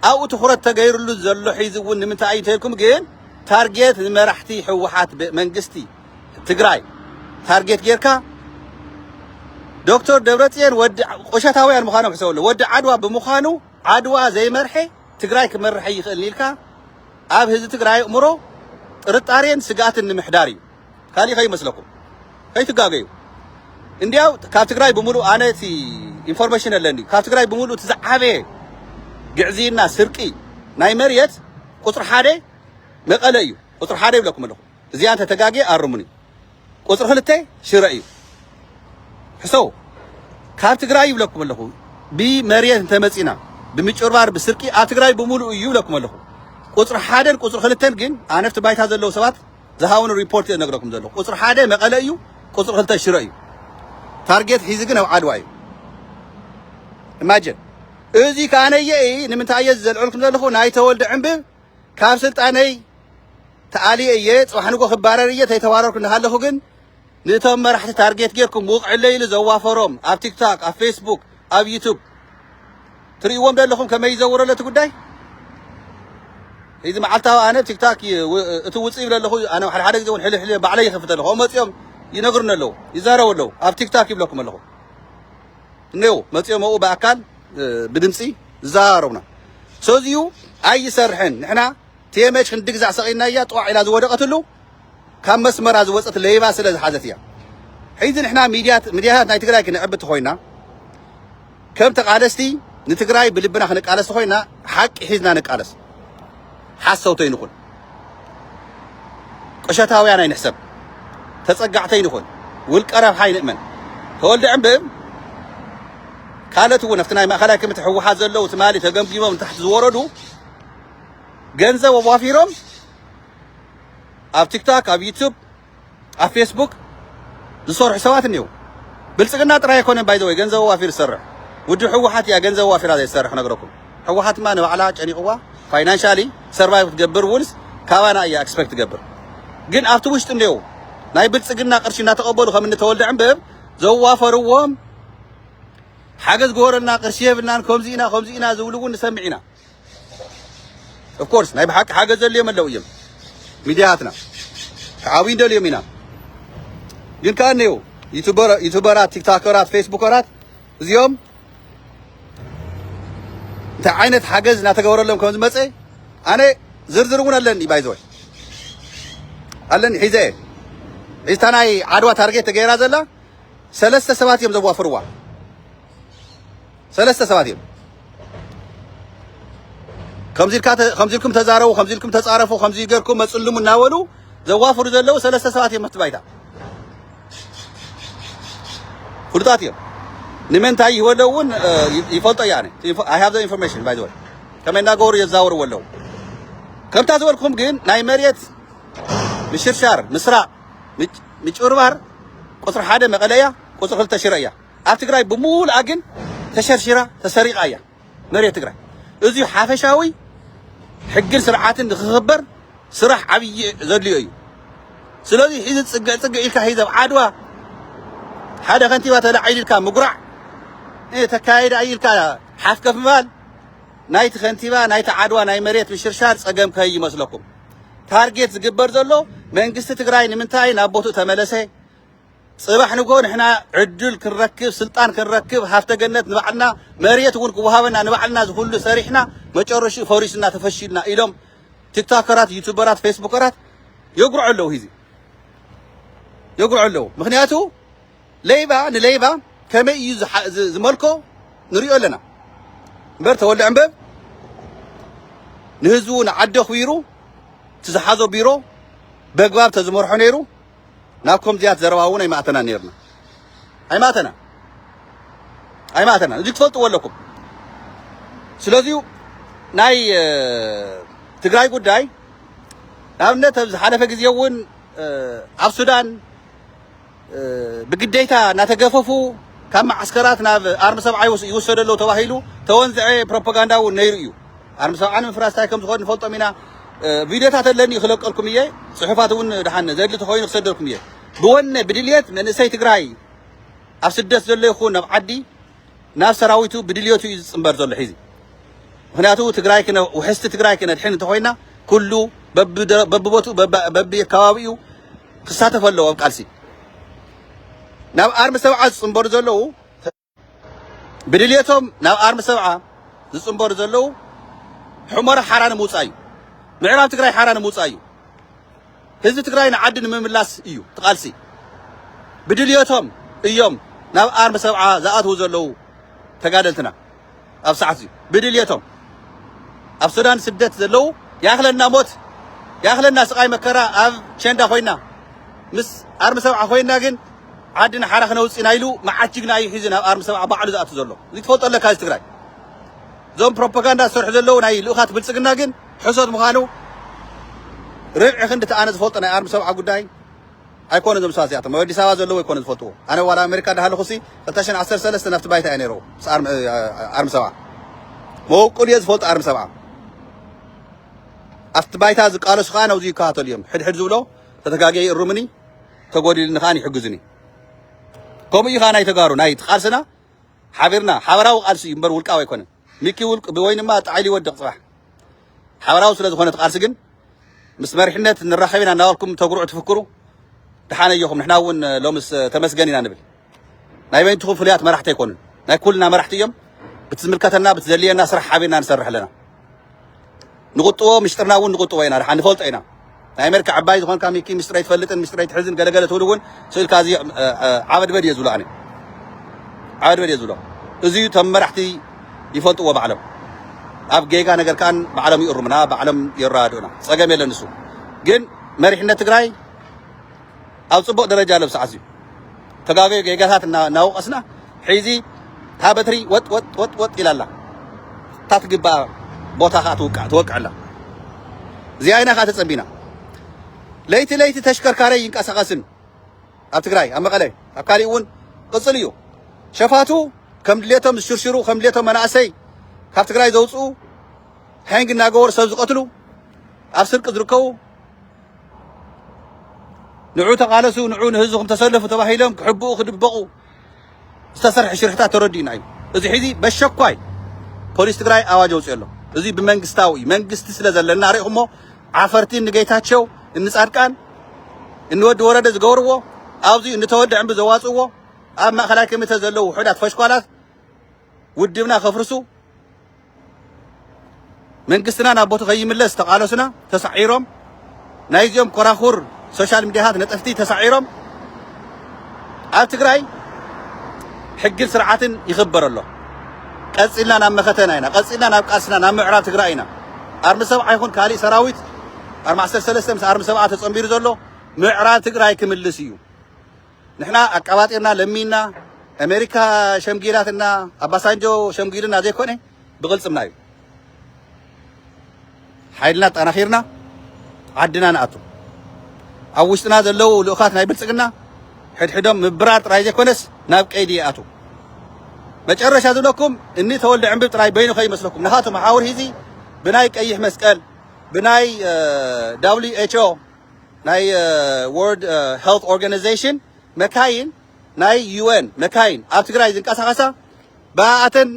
ኣብኡ ትኹረት ተገይርሉ ዘሎ ሒዚ እውን ንምንታይ እዩ እንተልኩም ግን ታርጌት ንመራሕቲ ህወሓት ብ- መንግስቲ ትግራይ ታርጌት ጌርካ ዶክተር ደብረፅዮን ወዲ ቁሸታውያን ምዃኖም ሕሰበሉ ወዲ ዓድዋ ብምዃኑ ዓድዋ ዘይመርሐ ትግራይ ክመርሕ ኣይኽእልን ኢልካ ኣብ ህዝቢ ትግራይ ኣእምሮ ጥርጣሬን ስግኣትን ንምሕዳር እዩ ካሊእ ከይመስለኩም ከይትጋገዩ እንድያው ካብ ትግራይ ብምሉእ ኣነ እቲ ኢንፎርሜሽን ኣለኒ ካብ ትግራይ ብምሉእ እቲ ዝዓበየ ግዕዝይና ስርቂ ናይ መሬት ቁፅሪ ሓደ መቐለ እዩ ቁፅሪ ሓደ ይብለኩም ኣለኹ እዚኣ እንተ ተጋግየ ኣርሙኒ። ቁጽሪ ክልተ ሽረ እዩ። ሕሰቡ። ካብ ትግራይ ይብለኩም ኣለኹ። ብመሬት እንተ መጺና ብምጭርባር ብስርቂ ኣብ ትግራይ ብምሉኡ እዩ ይብለኩም ኣለኹ። ቁጽሪ ሓደን ቁጽሪ ክልተን ግን ኣነ ኣብቲ ባይታ ዘለዉ ሰባት ዝሃቡኒ ሪፖርት እየ ነግረኩም ዘለኹ። ቁጽሪ ሓደ መቐለ እዩ፣ ቁጽሪ ክልተ ሽረ እዩ። ታርጌት ሒዚ ግን ኣብ ዓድዋ እዩ። ኢማጅን እዚ ከኣ ነየኢ ንምንታይ እየ ዝዘልዐልኩም ዘለኹ ናይ ተወልደ ዕንብብ ካብ ስልጣነይ ተኣልየ እየ፣ ጽባሕ ንግሆ ክባረር እየ፣ ተይተባረርኩ እናሃለኹ ግን ንእቶም መራሕቲ ታርጌት ጌርኩም ውቕዕለይ ኢሉ ዘዋፈሮም ኣብ ቲክታክ፣ ኣብ ፌስቡክ፣ ኣብ ዩቱብ ትርእይዎም ደለኹም ከመይ ይዘውሮ ለቲ ጉዳይ እዚ መዓልታዊ ኣነ ቲክታክ እቲ ውፅእ ይብለ ኣለኹ ኣነ ሓደ ሓደ ግዜ እውን ሕልሕ ሕልሕ ባዕለይ ይኸፍት ኣለኹ ኣብኡ መፂኦም ይነግሩኒ ኣለዉ ይዛረቡ ኣለዉ ኣብ ቲክታክ ይብለኩም ኣለኹ እኔው መፂኦም ኣብኡ ብኣካል ብድምፂ ዝዘራረቡና ሰዚዩ ኣይሰርሕን ንሕና ቴመች ክንዲ ግዛዕ ሰቂናያ ጥዋዕ ኢላ ዝወደቀትሉ ካብ መስመራ ዝወፀት ለይባ ስለ ዝሓዘት እያ ሕዚ ንሕና ሚድያታት ናይ ትግራይ ክንዕቢ ተኮይና ከም ተቃለስቲ ንትግራይ ብልብና ክንቃለስ ተኮይና ሓቂ ሒዝና ንቃለስ ሓሰውቲ ኣይንኹን፣ ቁሸታውያን ኣይንሕሰብ፣ ተጸጋዕቲ ኣይንኹን፣ ውልቀ ረብሓ ኣይንእመን። ተወልደ ዕምብእም ካልኦት እውን ኣብቲ ናይ ማእኸላይ ኮሚቴ ህወሓት ዘለዉ ትማሊ ተገምጊሞም ንታሕቲ ዝወረዱ ገንዘብ ኣዋፊሮም ኣብ ቲክታክ ኣብ ዩቱብ ኣብ ፌስቡክ ዝሰርሑ ሰባት እኔዉ። ብልጽግና ጥራይ ኣይኮነን ባይ ዘ ወይ ገንዘብ ኣዋፊሩ ዝሰርሕ ውድብ ህወሓት እያ ገንዘብ ኣዋፊራ ዘይትሰርሕ ክነግረኩም። ህወሓትማ ንባዕላ ጨኒቕዋ ፋይናንሻሊ ሰርቫይቭ ክትገብር እውንስ ካባና እያ ኤክስፐክት ትገብር። ግን ኣብቲ ውሽጢ እኔዉ ናይ ብልጽግና ቅርሺ እናተቐበሉ ከም እኒ ተወልደ ዕንብብ ዘዋፈርዎም ሓገዝ ግበረልና ቅርሺ የብልናን ከምዚ ኢና ከምዚ ኢና ዝብሉ እውን ንሰምዕ ኢና። ኦፍ ኮርስ ናይ ብሓቂ ሓገዝ ዘድልዮም ኣለው እዮም ሚድያትና ክዓብዩ ንደልዮም ኢና ግን ከዓ እነው ዩቱበራት ቲክታከራት ፌስቡከራት እዚኦም እንታይ ዓይነት ሓገዝ እናተገበረሎም ከም ዝመፀ ኣነ ዝርዝር እውን ኣለኒ ባይዘወይ ኣለኒ ሒዘ እየ ሒዝታ ናይ ዓድዋ ታርጌት ተገይራ ዘላ ሰለስተ ሰባት እዮም ዘዋፍርዋ ሰለስተ ሰባት እዮም። ከምዚ ኢልካ ከምዚ ኢልኩም ተዛረቡ፣ ከምዚ ኢልኩም ተጻረፉ፣ ከምዚ ገርኩም መጽልሙ እናበሉ ዘዋፍሩ ዘለዉ ሰለስተ ሰባት እዮም ኣብቲ ባይታ ፍሉጣት እዮም። ንምንታይ ይህበለ እውን ይፈልጦ እያ ኣይ ሃቭ ዘ ኢንፎርሜሽን ባይ ዘ ወይ ከመይ እናገበሩ የዛወርዎ ኣለዉ። ከምታ ዝበልኩም ግን ናይ መሬት ምሽርሻር፣ ምስራቕ፣ ምጭብርባር ቁፅሪ ሓደ መቐለ እያ፣ ቁፅሪ ክልተ ሽረ እያ። ኣብ ትግራይ ብሙሉኣ ግን ተሸርሺራ ተሰሪቓ እያ መሬት ትግራይ። እዙይ ሓፈሻዊ ሕግን ስርዓትን ንክኽበር ስራሕ ዓብዪ ዘድልዮ እዩ። ስለዙይ ሒዚ ፅግዕ ፅግዕ ኢልካ ሒዚ ኣብ ዓድዋ ሓደ ከንቲባ ተላዒሉ ኢልካ ምጉራዕ ተካይዳ እዩ ኢልካ ሓፍከፍ ምባል ናይቲ ከንቲባ ናይቲ ዓድዋ ናይ መሬት ምሽርሻር ፀገም ከይመስለኩም። ታርጌት ዝግበር ዘሎ መንግስቲ ትግራይ ንምንታይ ናብ ቦትኡ ተመለሰ ጽባሕ ንግሆ ንሕና ዕድል ክንረክብ ስልጣን ክንረክብ ሃፍተ ገነት ንባዕልና መሬት እውን ክወሃበና ንባዕልና ዝኹሉ ሰሪሕና መጨረሽኡ ፈሪስና ተፈሺልና ኢሎም ቲክቶከራት ዩቱበራት ፌስቡከራት የጉርዑ ኣለዉ ሂዚ የጉርዑ ኣለዉ ምክንያቱ ለይባ ንለይባ ከመይ እዩ ዝመልኮ ንሪኦ ኣለና እምበር ተወልደ ዕንበብ ንህዝቡ ንዓዲ ኣኽቢሩ እቲ ዝሓዞ ቢሮ በግባብ ተዝመርሖ ነይሩ ናብ ከምዚያት ዘረባ እውን ኣይማእተናን ነይርና ኣይማእተናን ኣይማእተናን እዚ ክትፈልጥዎ ኣለኩም ስለዚ ናይ ትግራይ ጉዳይ ንኣብነት ኣብ ዝሓለፈ ግዜ እውን ኣብ ሱዳን ብግዴታ እናተገፈፉ ካብ መዓስከራት ናብ ኣርሚ ሰብዓ ይውሰደ ኣሎ ተባሂሉ ተወንዝዐ ፕሮፓጋንዳ እውን ነይሩ እዩ ኣርሚ ሰብዓ ንምፍራስ ታይ ከም ዝኾን ንፈልጦም ኢና ቪድዮታት ኣለኒ ክለቀልኩም እየ ፅሑፋት እውን ድሓን ዘድሊ ተኾይኑ ክሰደልኩም እየ ብወነ ብድልየት መንእሰይ ትግራይ ኣብ ስደት ዘሎ ይኹን ኣብ ዓዲ ናብ ሰራዊቱ ብድልየቱ እዩ ዝፅምበር ዘሎ ሒዚ ምክንያቱ ትግራይ ክነ ውሕስቲ ትግራይ ክነድሕን እንተኾይና ኩሉ በብቦትኡ በቢ ከባቢኡ ክሳተፍ ኣለዎ ኣብ ቃልሲ ናብ ኣርሚ ሰብዓ ዝፅምበሩ ዘለዉ ብድልየቶም ናብ ኣርሚ ሰብዓ ዝፅምበሩ ዘለዉ ሑመራ ሓራ ንምውፃእ እዩ። ምዕራብ ትግራይ ሓራ ንምውፃእ እዩ። ህዝቢ ትግራይ ንዓዲ ንምምላስ እዩ ትቓልሲ። ብድልየቶም እዮም ናብ ኣርሚ ሰብዓ ዝኣትዉ ዘለዉ ተጋደልትና። ኣብ ሰዓት እዚ ብድልየቶም ኣብ ሱዳን ስደት ዘለዉ ያክለና ሞት ያክለና ስቃይ መከራ ኣብ ቸንዳ ኮይና ምስ ኣርሚ ሰብዓ ኮይና ግን ዓዲ ንሓራ ክነውፅ ኢና ኢሉ መዓት ጅግና እዩ ሒዙ ናብ ኣርሚ ሰብዓ ባዕሉ ዝኣቱ ዘሎ እዚ ትፈልጦ ኣለካ እዚ ትግራይ እዞም ፕሮፓጋንዳ ዝሰርሑ ዘለዉ ናይ ልኡኻት ብልፅግና ግን ሕሶት ምዃኑ ርብዒ ክንዲ ተኣነ ዝፈልጦ ናይ ኣርሚ ሰብዓ ጉዳይ ኣይኮኑ እዞም ሰባት እዚኣቶም ኣብ ኣዲስ ኣበባ ዘለዉ ኣይኮኑ ዝፈልጥዎ ኣነ ዋላ ኣሜሪካ ዳሃለኹሲ ክልተ ሽሕን ዓሰርተ ሰለስተ ናብቲ ባይታ እየ ነይረ ምስ ኣርሚ ሰብዓ መወቅል እየ ዝፈልጦ ኣርሚ ሰብዓ ኣብቲ ባይታ ዝቃለሱ ከዓ ናብዚ ይከታተሉ እዮም ሕድሕድ ዝብሎ ተተጋጊዐ ይእርሙኒ ተጎዲልኒ ከዓ ይሕግዙኒ ከምኡ እዩ ከዓ ናይ ተጋሩ ናይ ቃልስና ሓቢርና ሓበራዊ ቃልሲ እዩ እምበር ውልቃዊ ኣይኮነን ሚኪ ውልቅ ብወይንማ ጥዓይ ሊወድቅ ጽባሕ ሓበራዊ ስለ ዝኾነ እቲ ቃልሲ ግን ምስ መሪሕነት ንራኸብ ኢና እናበልኩም ተጉርዑ ትፍክሩ ድሓን ኣየኹም ንሕና እውን ሎምስ ተመስገን ኢና ንብል ናይ በይንትኹም ፍሉያት መራሕቲ ኣይኮኑን ናይ ኩልና መራሕቲ እዮም ብቲ ዝምልከተና ብቲ ዘድልየና ስራሕ ሓቢርና ንሰርሕ ኣለና ንቁጥቦ ምስጢርና እውን ንቁጥቦ ኢና ድሓ ንፈልጦ ኢና ናይ ኣሜሪካ ዕባይ ዝኾንካ ሚኪ ምስጢር ኣይትፈልጥን ምስጢር ኣይትሕዝን ገለገለ ትብል እውን ስእልካ እዚ ዓበድበድ እየ ዝብሎ ኣነ ዓበድበድ እየ ዝብሎ እዚዩ ተም መራሕቲ ይፈልጥዎ ባዕሎም ኣብ ጌጋ ነገር ከኣን ባዕሎም ይእርሙና ባዕሎም የረዳድኡና ፀገም የለን ንሱ ግን መሪሕነት ትግራይ ኣብ ጽቡቅ ደረጃ ኣሎ ብሰዓት እዚ ተጋገዩ ጌጋታት እናወቀስና ሕዚ እታ በትሪ ወጥ ወጥ ወጥ ወጥ ኢላ ኣላ እታ ትግባኣ ቦታ ከዓ ትውቃዕ ትወቅዕ ኣላ እዚኣ ኢና ከዓ ተጸቢና ለይቲ ለይቲ ተሽከርካሪ ይንቀሳቀስን ኣብ ትግራይ ኣብ መቐለ ኣብ ካሊእ እውን ቅፅል እዩ ሸፋቱ ከም ድሌቶም ዝሽርሽሩ ከም ድሌቶም መናእሰይ ካብ ትግራይ ዘውፅኡ ሕንግ እናገበሩ ሰብ ዝቐትሉ ኣብ ስርቂ ዝርከቡ ንዑ ተቓለሱ፣ ንዑ ንህዝብኹም ተሰለፉ ተባሂሎም ክሕብኡ ክድበቑ ዝተሰርሐ ሽርሕታት ተረዲኡና እዩ። እዚ ሕዚ በሸኳይ ፖሊስ ትግራይ ኣዋጅ ኣውፅኦ ኣሎ። እዚ ብመንግስታዊ እዩ። መንግስቲ ስለ ዘለና ሪእኹሞ ዓፈርቲ ንጌታቸው እንፃድቃን እንወዲ ወረደ ዝገብርዎ ኣብዚ እንተወዲ ዕምቢ ዘዋፅእዎ ኣብ ማእኸላይ ኮሚቴ ዘለዉ ውሑዳት ፈሽኳላት ውድብና ከፍርሱ መንግስትና ናብ ቦቱ ከይምለስ ዝተቃለሱና ተሳዒሮም ናይዚኦም ኮራኹር ሶሻል ሚዲያታት ነጠፍቲ ተሳዒሮም ኣብ ትግራይ ሕግን ስርዓትን ይኽበር ኣሎ። ቀፂልና ናብ መኸተና ኢና ቀፂልና ናብ ቃልስና ናብ ምዕራብ ትግራይ ኢና ኣርሚ ሰብዓ ይኹን ካሊእ ሰራዊት ኣርሚ ዓሰርተ ሰለስተ ምስ ኣርሚ ሰብዓ ተፀምቢሩ ዘሎ ምዕራብ ትግራይ ክምልስ እዩ ንሕና ኣቃባጢርና ለሚንና ኣሜሪካ ሸምጊላትና ኣባሳንጆ ሸምጊሉና ዘይኮነ ብቕልፅምና እዩ ሓይልና ኣጠናኺርና ዓድና ንኣቱ ኣብ ውሽጥና ዘለዉ ልኡኻት ናይ ብልፅግና ሕድሕዶም ምብራር ጥራይ ዘይኮነስ ናብ ቀይዲ ይኣቱ መጨረሻ ዝብለኩም እኒ ተወልደ ዕንብብ ጥራይ በይኑ ከይመስለኩም ናኻቶም ሓውር ሂዚ ብናይ ቀይሕ መስቀል ብናይ ዳብሊዩ ኤች ኦ ናይ ዎርድ ሄልት ኦርጋናይዜሽን መካይን ናይ ዩኤን መካይን ኣብ ትግራይ ዝንቀሳቐሳ ብኣኣተን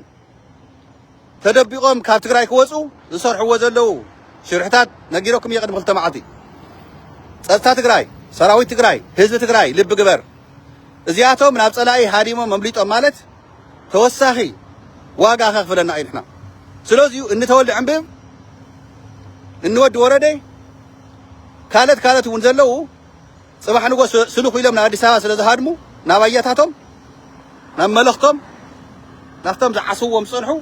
ተደቢቖም ካብ ትግራይ ክወፁ ዝሰርሕዎ ዘለዉ ሽርሕታት ነጊረኩም እየ ቅድሚ ክልተ መዓልቲ ጸጥታ ትግራይ ሰራዊት ትግራይ ህዝቢ ትግራይ ልቢ ግበር እዚኣቶም ናብ ጸላኢ ሃዲሞም መምሊጦም ማለት ተወሳኺ ዋጋ ከኽፍለና እዩ ንሕና ስለዚዩ እንተወልደ ዕንብብ እንወዲ ወረደ ካልኦት ካልኦት እውን ዘለዉ ፅባሕ ንጎ ስልኹ ኢሎም ናብ ኣዲስ ኣበባ ስለ ዝሃድሙ ናብ ኣያታቶም ናብ መለኽቶም ናብቶም ዝዓስዎም ዝፀንሑ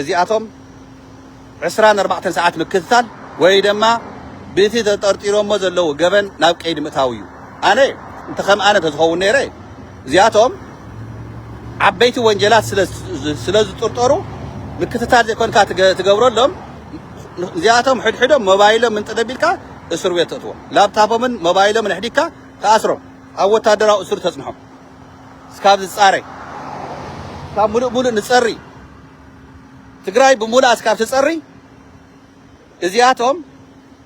እዚኣቶም ዕስራን ኣርባዕተን ሰዓት ምክትታል ወይ ድማ ብእቲ ተጠርጢሮሞ ዘለዉ ገበን ናብ ቀይዲ ምእታው እዩ ኣነ እንተ ከም ኣነ እንተዝኸውን ነይረ እዚኣቶም ዓበይቲ ወንጀላት ስለ ዝጥርጠሩ ምክትታል ዘይኮንካ ትገብረሎም እዚኣቶም ሕድሕዶም ሞባይሎም እንተ ደቢልካ እስር ቤት ተእትዎም፣ ላፕታፖምን ሞባይሎምን ኣሕዲግካ ትኣስሮም፣ ኣብ ወታደራዊ እሱር ተጽንሖም። እስካብ ዝጻረይ ካብ ሙሉእ ሙሉእ ንጸሪ ትግራይ ብሙሉኣ እስካብ ትጸሪ እዚኣቶም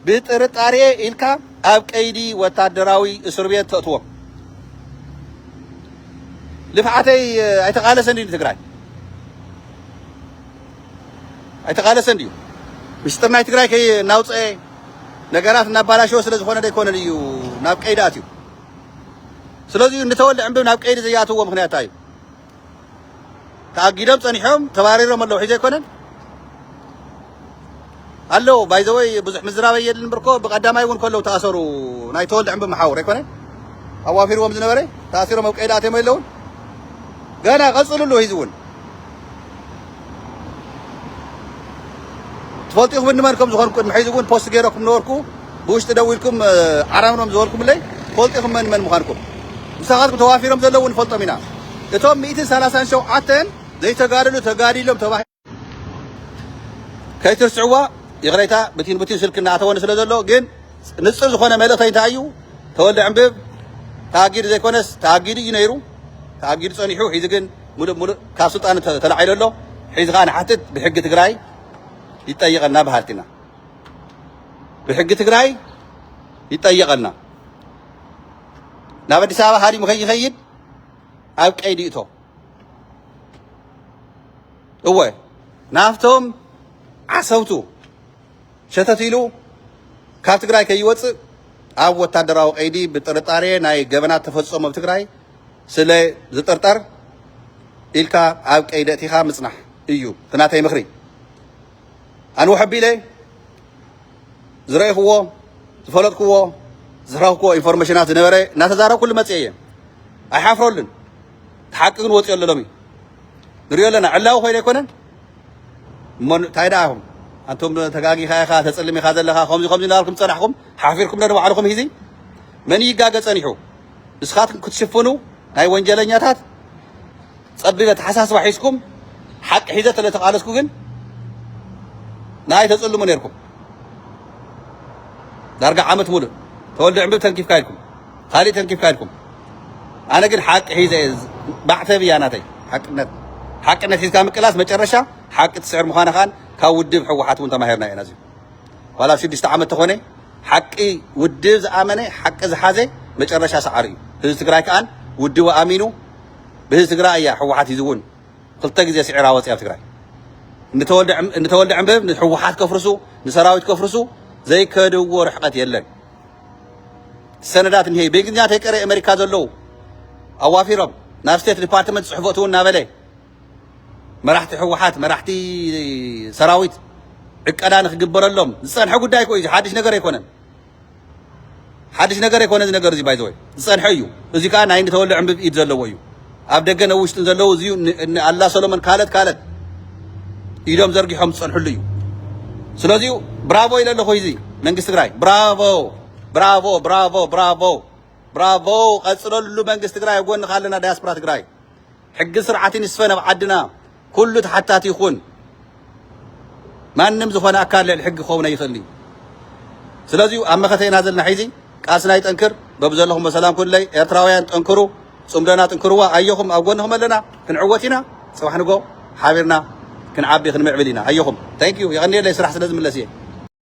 ብጥርጣሬ ኢልካ ኣብ ቀይዲ ወታደራዊ እስር ቤት ተእትዎም። ልፍዓተይ ኣይተቃለሰን ድዩ ትግራይ? ኣይተቃለሰን ድዩ? ሚስጥር ናይ ትግራይ ከይናውፀኤ ነገራት እናባላሸወ ስለ ዝኾነ ደይኮነን እዩ ናብ ቀይዲ ኣትዩ። ስለዚ እዩ እንተወልደ ዕንብብ ናብ ቀይዲ ዘይኣትዎ ምክንያት እዩ። ተኣጊዶም ፀኒሖም ተባሪሮም ኣለዉ ሕጂ ኣይኮነን ኣለዉ ባይ ዘ ወይ ብዙሕ ምዝራብ ኣየድልን እምበር እኮ ብቀዳማይ እውን ከለዉ ተኣሰሩ ናይ ተወልደ ዕንበ መሓውር ኣይኮነን ኣዋፊርዎም ዝነበረ ተኣሲሮም ኣብ ቀይዲ ኣትዮም የለውን ገና ቀፅልሉ ህዚ እውን ትፈልጡ ኢኹም እንመን ከም ዝኾንኩ ቅድሚ ሕዚ እውን ፖስት ገይረኩም ነበርኩ ብውሽጢ ደው ኢልኩም ዓራምኖም ዝበልኩምለይ ትፈልጡ ኢኹም መን መን ምዃንኩም ምሳኻትኩም ተዋፊሮም ዘለዉ ንፈልጦም ኢና እቶም ሚእትን ሰላሳን ሸውዓተን ዘይተጋደሉ ተጋዲሎም ተባሂ ከይትርስዕዋ ይቕሬታ ብቲን ብቲን ስልኪ እናኣተወኒ ስለ ዘሎ ግን ንፅር ዝኾነ መልእኽተይ እንታይ እዩ ተወልደ ዕንብብ ተኣጊዱ ዘይኮነስ ተኣጊዱ እዩ ነይሩ ተኣጊዱ ፀኒሑ ሒዚ ግን ሙሉእ ሙሉእ ካብ ስልጣን ተላዒሉ ኣሎ ሒዚ ከዓ ንሓትት ብሕጊ ትግራይ ይጠየቐና በሃልቲና ብሕጊ ትግራይ ይጠየቐና ናብ ኣዲስ ኣበባ ሃዲሙ ከይኸይድ ኣብ ቀይዲ እቶ እወ ናብቶም ዓሰብቱ ሸተት ኢሉ ካብ ትግራይ ከይወፅእ ኣብ ወታደራዊ ቀይዲ ብጥርጣሬ ናይ ገበናት ተፈፀሙ ኣብ ትግራይ ስለ ዝጥርጠር ኢልካ ኣብ ቀይዲ እቲኻ ምፅናሕ እዩ እቲ ናተይ ምኽሪ ኣንዎ ሕቢለ ዝረእኹዎ ዝፈለጥኩዎ ዝረኽኩዎ ኢንፎርሜሽናት ዝነበረ እናተዛረብኩሉ መፅአ እየ ኣይሓፍረሉን እቲ ሓቂ ግን ወፂኦ ኣሎ ሎሚ ንሪኦ ኣለና ዕላዊ ኮይኑ ኣይኮነን እሞ እንታይ ደኣ ኢኹም ኣንቶም ተጋጊኻ ኢኻ ተፅልም ኢኻ ዘለኻ ከምዚ ከምዚ እናበልኩም ፀናሕኩም ሓፊርኩም ዶ ንባዕልኹም ሂዚ መን ይጋገ ፀኒሑ ንስኻትኩም ክትሽፍኑ ናይ ወንጀለኛታት ፀቢብ ኣተሓሳስባ ሒዝኩም ሓቂ ሒዘ ተለተቃለስኩ ግን ንኣይ ተፅልሙ ነርኩም ዳርጋ ዓመት ሙሉእ ተወልደ ዕምብብ ተንኪፍካ ኢልኩም ካሊእ ተንኪፍካ ኢልኩም ኣነ ግን ሓቂ ሒዘ እየ ማዕተብ እያ ናተይ ሓቅነት ሓቅነት ሒዝካ ምቅላስ መጨረሻ ሓቂ ትስዕር ምዃና ከኣ ካብ ውድብ ሕወሓት እውን ተማሂርና ኢና እዚዩ ዋላ ኣብ ሽዱሽተ ዓመት ተኾነ ሓቂ ውድብ ዝኣመነ ሓቂ ዝሓዘ መጨረሻ ሰዓሪ እዩ ህዝቢ ትግራይ ከኣ ውድቡ ኣሚኑ ብህዝቢ ትግራይ እያ ሕወሓት ሂዚ እውን ክልተ ግዜ ስዒራ ወፂያ ኣብ ትግራይ እንተወልደ ዕንብብ ንሕወሓት ከፍርሱ ንሰራዊት ከፍርሱ ዘይከድዎ ርሕቀት የለን ሰነዳት እኒሀ እዩ ብእንግሊዝኛ ተይቀረ ኣሜሪካ ዘለዉ ኣዋፊሮም ናብ ስቴት ዲፓርትመንት ፅሕፈት እውን እናበለ መራሕቲ ህወሓት መራሕቲ ሰራዊት ዕቀዳ ንክግበረሎም ዝፀንሐ ጉዳይ እኮ እዩ ሓድሽ ነገር ኣይኮነን ሓድሽ ነገር ኣይኮነ እዚ ነገር እዚ ባይዘወይ ዝፀንሐ እዩ እዚ ከዓ ናይ ንተወልደ ዕንብብ ኢድ ዘለዎ እዩ ኣብ ደገን ኣብ ውሽጥን ዘለዉ እዚ እነ ኣላ ሰሎሞን ካለት ካለት ኢዶም ዘርጊሖም ዝጸንሕሉ እዩ ስለዚ ብራቮ ኢለ ኣለኹ እዚ መንግስቲ ትግራይ ብራቮ ብራቮ ብራቮ ብራቮ ብራቮ ቀጽለሉ መንግስቲ ትግራይ ኣብ ጎንኻ ኣለና ዳያስፖራ ትግራይ ሕግን ስርዓትን ይስፈን ኣብ ዓድና ኩሉ ተሓታቲ ይኹን። ማንም ዝኾነ ኣካል ልዕሊ ሕጊ ክኸውን ኣይኽእልን እዩ። ስለዚ ኣብ መኸተ ኢና ዘለና ሒዚ ቃልስና ይጠንክር። በብዘለኹም በሰላም ኩለይ ኤርትራውያን ጠንክሩ፣ ጽምዶና ጥንክርዋ፣ ኣየኹም ኣብ ጎንኹም ኣለና፣ ክንዕወት ኢና። ጽባሕ ንጎ ሓቢርና ክንዓቢ ክንምዕብል ኢና። ኣየኹም ታንኪዩ፣ የቐንየለይ ስራሕ ስለ ዝምለስ እየ።